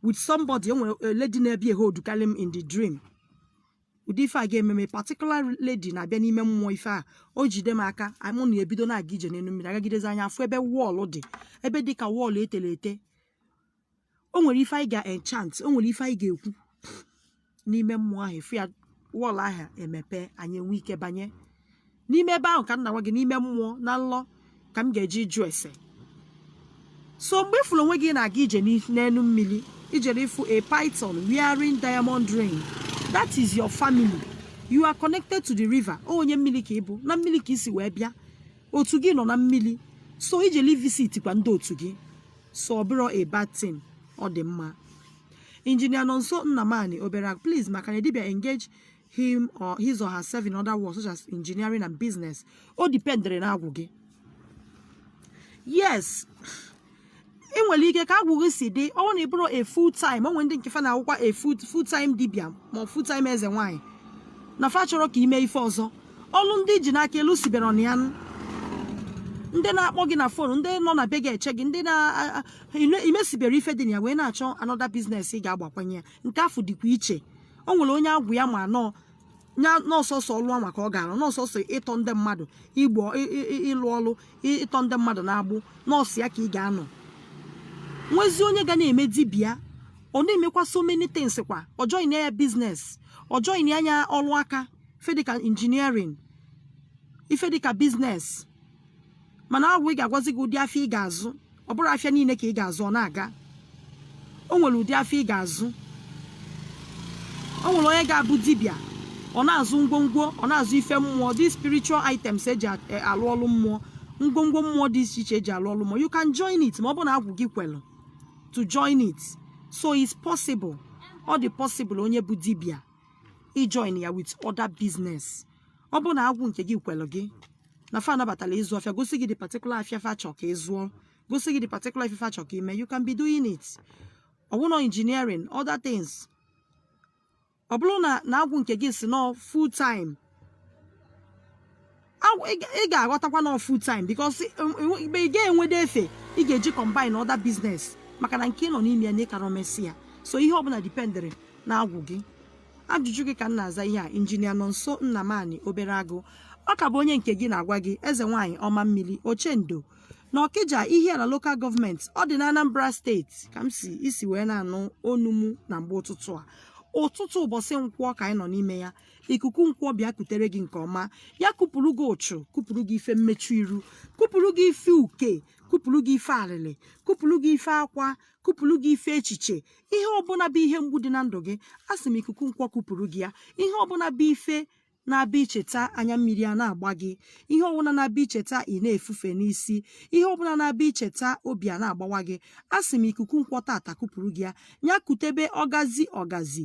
with somebody e nwere a lady na-abịa eholdukarị m in the dream ụdị ife a ga-eme m a particular lady na-abịa n'ime mmụọ ife a o jide m aka mụ na ya ebido na-aga ije n'elu mmiri agagidezi anyị afụ ebe wall dị ebe dị ka wall e tere ete o nwere ife anyị ga-enchant o nwere ife anyị ga-ekwu n'ime mmụọ ahụ ife a wall ahụ emepe anyị enwe ike banye n'ime ebe ahụ ka m na-agwa gị n'ime mmụọ na nlọ ka m ga-eji jụ ese so mgbe ị fụrụ onwe gị na-aga ije n'i- n'elu mmiri i jere ịfụ a python wearing diamond ring that is your family you are connected to the river ọ onye mmiri ka ị bụ na mmiri ka i si wee bịa otu gị nọ na mmiri so i jeli ivisitkwa ndị otu gị so ọ bụrọ a bad thing ọ dị mma Engineer Nonso Nnamani obere please ma can a dibia engage him or his or herself in other works such as engineering and business o dependere na agwụ gị yes ị nwere ike ka agwụ gị si dị ọ bụrụ na ị bụrụ a full time o nwe ndị nke fa na-awụkwa a full full time dibia ma ọ full time eze nwaanyị na fa achọrọ ka i mee ife ọzọ ọlụ ndị iji n'aka elusibere ọnụ ya ndị na-akpọ gị na phone ndị nọ na be gị eche gị ndị na imesibere ife dị na ya wee na-achọ another business ị ga-agbakwanye ya nke afụ dịkwa iche o nwere onye agwụ ya ma nọọ nya na ọ sọsọ ọlụ anwa ka ọ ga-arụ na ọ sọsọ ịtọ ndị mmadụ igbo ịlụ ọlụ ịtọ ndị mmadụ n'agbụ na ọ sọ ya ka ị ga-anọ nwezi onye ga na-eme dibịa ọ na-emekwa so many things kwa ọ join ya business ọ join nya ọlụ aka ife dịka engineering ife dịka business mana agwụ ị ga-agwazi gị ụdị afịa ị ga-azụ ọ bụrọ afịa niile ka ị ga-azụ ọ na-aga o nwere ụdị afịa ị ga-azụ o nwere onye ga-abụ dibịa ọ na-azụ ngwongwo ọ na-azụ ife mmụọ the spiritual items eji e, alụ ọlụ mmụọ ngwongwo mmụọ dị iche iche eji alụ ọlụ mmụọ you can join it ma ọ bụ na agwụ gị kwelụ to join it so it's possible ọ dị possible onye bụ dibịa ijoin ya with other business ọ bụrụ na agwụ nke gị kwelụ gị na fa anabatala ịzụ afịa gosi gị the particular afịa fa chọ ka ị zụọ gosi gị the particular afịa fa chọ ka i mee you can be doing it ọwụnọ engineering other things ọ bụrụ na na agwụ nke gị sị nọọ full time ị ga-aghọtakwa na full time because ị ga-enwede efe ị ga-eji combine other business maka na nke ị nọ n'ime ya na ị karọ emesi ya so ihe ọbụla dipendịrị na agwụ gị ajụjụ gị ka m na-aza ihe a injinia nọnso nnamani obere agụ ọ ka bụ onye nke gị na-agwa gị eze nwaanyị ọma mmiri ochendo na ọkịja ihiala lokal gọọmenti ọ dị na anambra steeti ka m si isi wee na-anụ onu mụ na mgbe ụtụtụ a ụtụtụ ụbọchị nkwọ ka anyị nọ n'ime ya ikuku nkwọ bịa kutere gị nke ọma ya kupụrụ gị ụchụ kupụrụ gị ife mmechu iru kupụrụ gị ife uke kupụrụ gị ife alịlị kupụrụ gị ife akwa kupụrụ gị ife echiche ihe ọbụla bụ ihe mgbu dị na ndụ gị a sị m ikuku nkwọ kupụrụ gị ya ihe ọbụla bụ ife na-abụ i cheta anya mmiri a na-agba gị ihe ọbụla na-abụ i cheta ị na-efufe n'isi ihe ọbụla na-abụ i cheta obi a na-agbawa gị a sị m ikuku nkwọ tata kupụrụ gị ya ya kutebe ọgazi ọgazi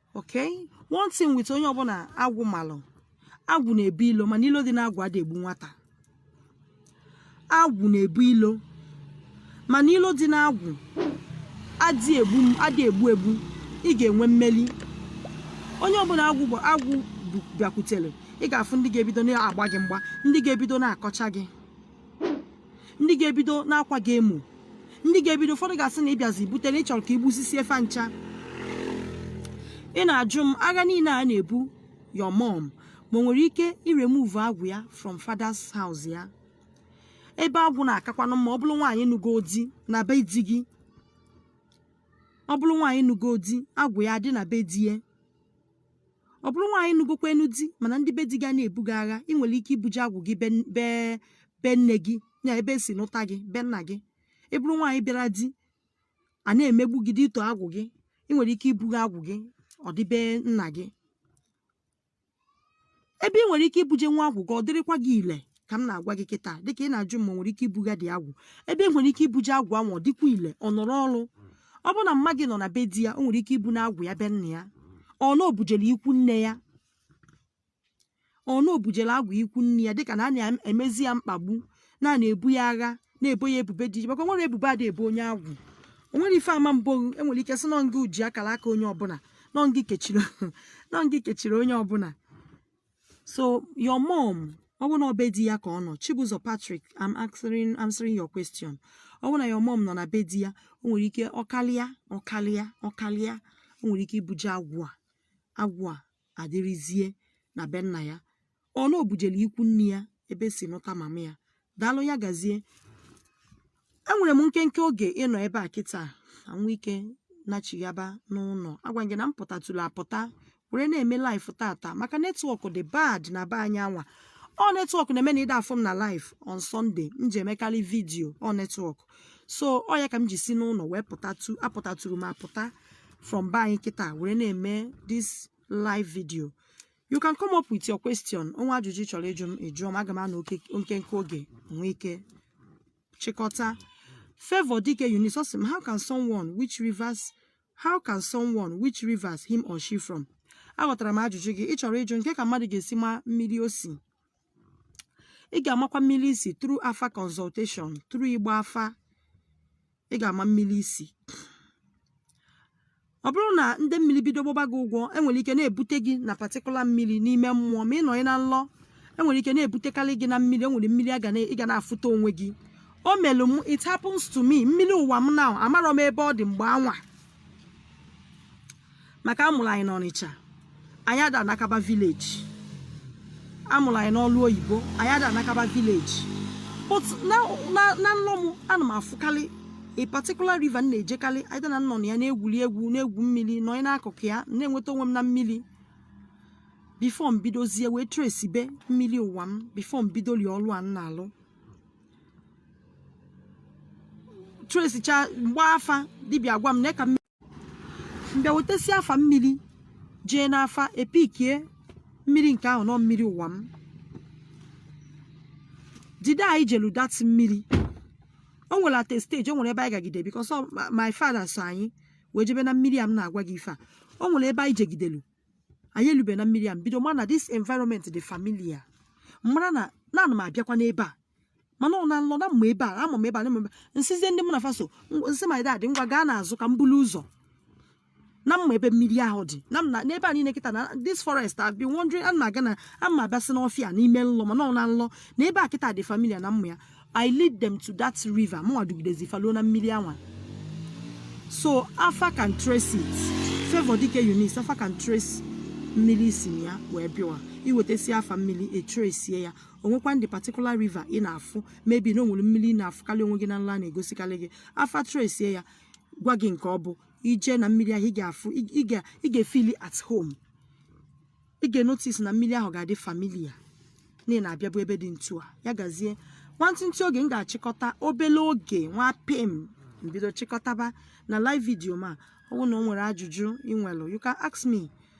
okay one thing with onye ọbụla agwụ malụ agwụ na-ebu ilo mana ilo dị n'agwụ adị egbu nwata agwụ na-ebu ilo mana ilo dị n'agwụ adị egbu adị egbu egbu ị ga-enwe mmeli onye ọbụla agwụ bụ agwụ bịakwutere ị ga-afụ ndị ga-ebido na-agba gị mgba ndị ga-ebido na-akọcha gị ndị ga-ebido na-akwa gị emo ndị ga-ebido ụfọdụ ga-asị na ịbịazi bute na ịchọrọ ka igbusisie fa ncha ị na-ajụ m agha niile a na-ebu your mom ma o nwere ike iremove agwụ ya from father's house ya ebe agwụ na-akakwanụ mma ọ bụrụ nwaanyị nụgo di na be di gị ọ bụrụ nwaanyị nụgo di agwụ ya dị na be di ya ọ bụrụ nwaanyị nụgokwa enu di mana ndị be di gị na-ebu gị agha ị nwere ike ibuje agwụ gị be nne gị ya ebe esi nụta gị be nna gị ị bụrụ nwaanyị bịara di a na-emegbu gị due to agwụ gị ị nwere ike ibuga agwụ gị ọ dị be nna gị ebe ị nwere ike ibuje nwa agwụ gị ọ dịrịkwa gị ile ka m na-agwa gị kịta dịka ị na-ajụ m ma nwere ike ibugadị agwụ ebe nwere ike ibuje agwụ ahụ ọ dịkwa ile ọ na-arụ ọrụ ọ bụ na mma gị nọ na be di ya o nwere ike ibuna agwụ ya be nna ya ọ na o bujele ikwu nne ya ọ na o bujele agwụ ikwu nne ya dịka na a na-emezi ya mkpagbu na na-ebu ya agha na-ebo ya ebubo dị iche maka o nwere ebubo a da ebo onye agwụ o nwere ife ama mbụ enwere ike sị nọ ngị ji akara aka onye ọbụla nọ ngị kechiri nọ ngị kechiri onye ọbụla so your mom ọ bụ na ọ be di ya ka ọ nọ Chibuzọ Patrick I'm answering answering your question ọ bụ na your mom nọ na be di ya o nwere ike ọ kalịa ọ kalịa ọ kalịa o nwere ike ibuje agwụ a agwụ a adịrịzie na be nna ya ọ na o bujele ikwu nne ya ebe esi nụta mama ya daalụ ya gazie enwere m nkenke oge ịnọ ebe a kịta nwee ike nachighaba n'ụlọ agwa gị na m pụtatụrụ apụta were na-eme live tata maka network dị bad na be anyị anwa ọ network na-eme na ị da afụ m na live on Sunday m ji emekarị video ọ network so ọ ya ka m ji si n'ụlọ wee pụtatụ apụtatụrụ m apụta from be anyị kịta were na-eme this live video you can come up with your question o nwee ajụjụ ị chọrọ ịjụ m ị jụọ m aga m anọ oke- nkenke oge nwee ike chịkọta Favour Dike Eunice ọ sị m how can someone which rivers how can someone which rivers him or she from aghọtara m ajụjụ gị ị chọrọ ịjụ m kee ka mmadụ ga-esi ma mmiri o si ị ga-amakwa mmiri i si through afa consultation through ịgba afa ị ga-ama mmiri i si ọ bụrụ na ndị mmiri bido gbọba gị ụgwọ enwere ike na-ebute gị na particular mmiri n'ime mmụọ ma ị nọ na nlọ enwere ike na-ebutekarị gị na mmiri enwere mmiri a ga na- ị ga na-afụta onwe gị o melụ m it happens to me mmiri ụwa m now amarọ m ebe ọ dị mgbe anwa maka amụrụ anyị n'Ọnịcha anyị ada anakaba village amụrụ anyị n'ọlụ oyibo anyị ada anakaba village but na nlọ m ana m afụkarị a particular river m na-ejekarị either na m nọ na ya na-egwuri egwu na-egwu mmiri nọ n'akụkụ ya na-enweta onwe m na mmiri before m bidozie wee tresibe mmiri ụwa m before m bidoli ọlụ a m na-alụ tresicha m gbaa afa dibịa gwa m na ka m bịa wetesi afa mmiri jee n'afa epikie mmiri nke ahụ na ọ mmiri ụwa m the day anyị jelu that mmiri o nwere at a stage o nwere ebe anyị gagide because my father so anyị wee jebe na mmiri a m na-agwa gị ife a o nwere ebe anyị jegidelu anyị elube na mmiri a m bido ma na this environment dị familiar mara na na ana m abịakwa n'ebe a mana ọ na nlọ na m ma ebe a ama m ebe a na-eme m sịzie ndị mụ na fa so m sị my dad ngwa gaa n'azụ ka m bulu ụzọ na m ma ebe mmiri ahụ dị na m na- n'ebe a niile kịta na this forest I've been wandering a na-aga na a ma abịasị n'ọfịa n'ime nlọ mana ọ na nlọ na ebe a kịta dị familiar na m ma ya I lead them to that river mụnwa dugidezi fa luo na mmiri anwa so afa can trace it favour dike eunice afa can trace mmiri si na ya wee bịawa iwetasi afa mmiri etrace ya o nwekwa ndị particular river ị na-afụ maybe na o nwere mmiri ị na-afụkarị onwe gị na nla na-egosikarị gị afa trace ya gwa gị nke ọ bụ i je na mmiri ahụ ị ga-afụ ị ga-efeel at home ị ga-enotice na mmiri ahụ ga-adị familiar na ị na-abịabu ebe dị ntu a ya gazie nwantịntị oge m ga-achịkọta obele oge nwa pem m bido chịkọtaba na live video ma ọ bụrụ na o nwere ajụjụ ị nwere you can ask me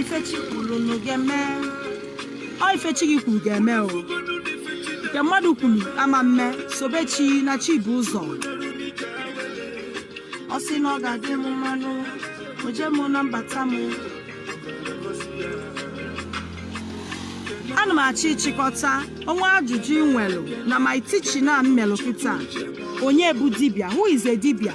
ife chi kwuru na ga-eme o ife chi gị kwuru ga-eme o nke mmadụ kwuru ama mme sobe chi na chi bu ụzọ ọ sị na ọ ga-adị m mma n'oje m na mbata m ana m achọ ịchịkọta o nwee ajụjụ ị nwelụ na my teaching na m melụ kịta onye bụ dibịa who is a dibịa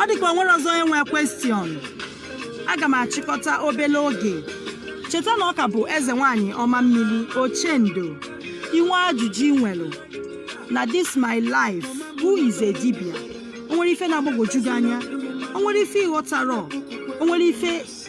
ọ dịka o nwere ọzọ onye nwee question aga m achịkọta obele oge cheta na ọ ka bụ eze nwanyị ọma mmiri ochendo i nwee ajụjụ ị nwere na this my live who is a dibịa o nwere ife na-agbagwoju gị anya o nwere ife ị ghọtarọ o nwere ife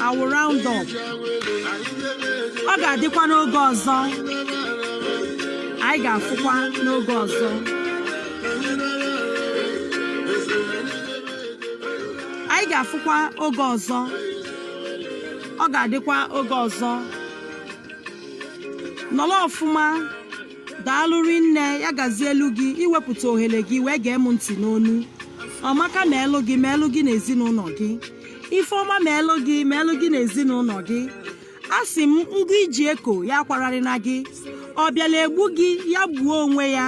I will round up. Ọ ga-adịkwa n'oge ọzọ. Anyị ga-afụkwa n'oge ọzọ. Anyị ga-afụkwa oge ọzọ. Ọ ga-adịkwa oge ọzọ. Nọrọ ọfụma. Daalụ rinne ya gazielu gị iwepụta ohere gị wee gee m ntị n'onu. Ọmaka meelu gị meelu gị na ezinụnọ gị. ife ọma meelu gị meelu gị na ezinụnọ gị asị m ngụ i ji eko ya akwararịna gị ọ bịalụ egbu gị ya gbuo onwe ya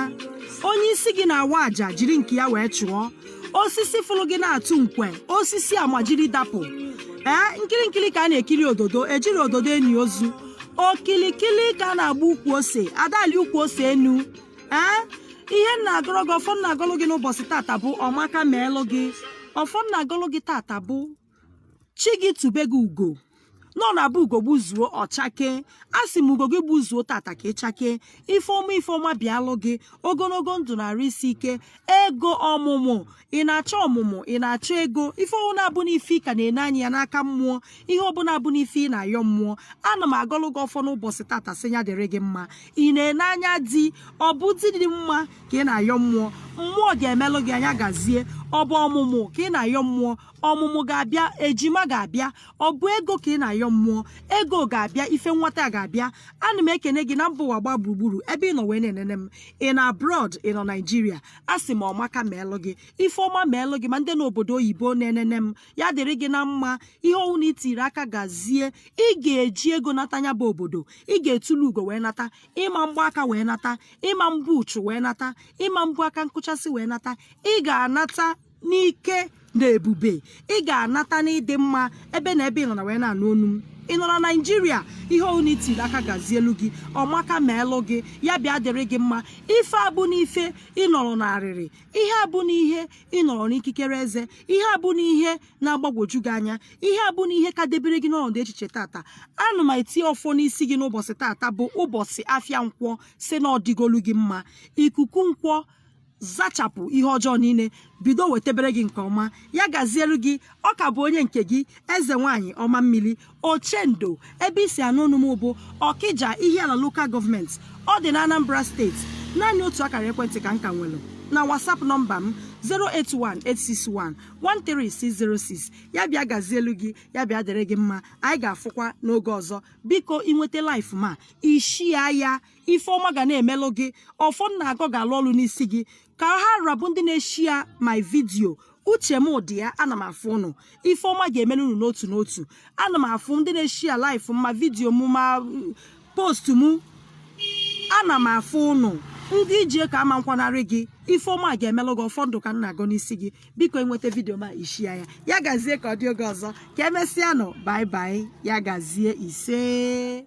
onye isi gị na-awa aja jiri nke ya wee chụọ osisi fụlụ gị na-atụ nkwe osisi amajiri dapụ ee nkili nkili ka a na-ekili ododo ejirọ ododo eni ozu okilikili ka a na-agba ukwu ose a da alị ukwu ose enu ee ihe m na-agọrọ gị ọfọ m na-agọlụ gị n'ụbọchị tata bụ ọmaka meelụ gị ọfọ m na-agọlụ gị tata bụ chi gị tube gị ugo n'ọ na-abụ ugo gbuzuo ọ chakee a sị m ugo gị gbuzuo tata ka ị chakee ife ọma ife ọma bịalụ gị ogologo ndụ na arụ isi ike ego ọmụmụ ị na-achọ ọmụmụ ị na-achọ ego ife ọbụla abụ n'ife ị ka na-ene anya ya n'aka mmụọ ihe ọbụla abụ n'ife ị na-ayọ mmụọ ana m agọlụ gị ọfọ n'ụbọchị tata sị ya dịrị gị mma ị na-ene anya di ọ bụ di dị mma ka ị na-ayọ mmụọ mmụọ ga-emelụ gị nya gazie ọ bụ ọmụmụ ka ị na-ayọ mmụọ ọmụmụ ga-abịa ejima ga-abịa ọ bụ ego ka ị na-ayọ mmụọ ego ga-abịa ife nwata ga-abịa ana m ekene gị na mba ụwa gbaa gburugburu ebe ị nọ wee na-enene m ị nọ abroad ị nọ naijiria a sị m ọmaka meelụ gị ife ọma meelụ gị ma ndị n'obodo oyibo na-enene m ya dịrị gị na mma ihe ọwụna i tiri aka gazie ị ga-eji ego nata nya bụ obodo ị ga-etulu ugo wee nata ị ma mgba aka wee nata ị ma mbu uchu wee nata ị ma mbu aka nkụchasị wee nata ị ga-anata n'ike na ebube ị ga-anata n'ịdị mma ebe na ebe ị nọ na wee na-anụ onu m ị nọ na naijiria ihe ọbụla i tiri aka gazielu gị ọmaka meelụ gị ya bịa dịrị gị mma ife abụ n'ife ị nọrọ n'arịrị ihe abụ n'ihe ị nọrọ n'ikikere eze ihe abụ n'ihe na-agbagwoju gị anya ihe abụ n'ihe ka debere gị n'ọnọdụ echiche tata ana m etinye ọfọ n'isi gị n'ụbọchị tata bụ ụbọchị afịa nkwọ sị na ọ dịgolu gị mma ikuku nkwọ zachapụ ihe ọjọọ niile bido wetebere gị nke ọma ya gazielu gị ọ ka bụ onye nke gị eze nwaanyị ọma mmili ochendo ebe i si anụ onu m bụ ọkija ihiala lokal gọọmenti ọ dị na anambra steeti naanị otu akara ekwentị ka m ka nwere na whatsapp nọmba m 08186113606 ya bịa gazielu gị ya bịa dịrị gị mma anyị ga-afụkwa n'oge ọzọ biko i nweta live m a i shia ya ife ọma ga na-emelụ gị ọfọ m na-agọ ga-alụ ọlụ n'isi gị ka ha ra bụ ndị na-eshia my vidio uche m dị ya ana m afụ ụnụ ife ọma ga-emelu unu n'otu n'otu ana m afụ ndị na-eshia laif ma vidio m ma postu m ana m afụ ụnụ ndị iji ka ama nkwanarị gị ife ọma ga-emelụ gị ọfọ ndụ ka m na-agọ n'isi gị biko i nweta vidio m a i shia ya ya gazie ka ọ dị oge ọzọ ka e mesịa nụ bye bye ya gazie isee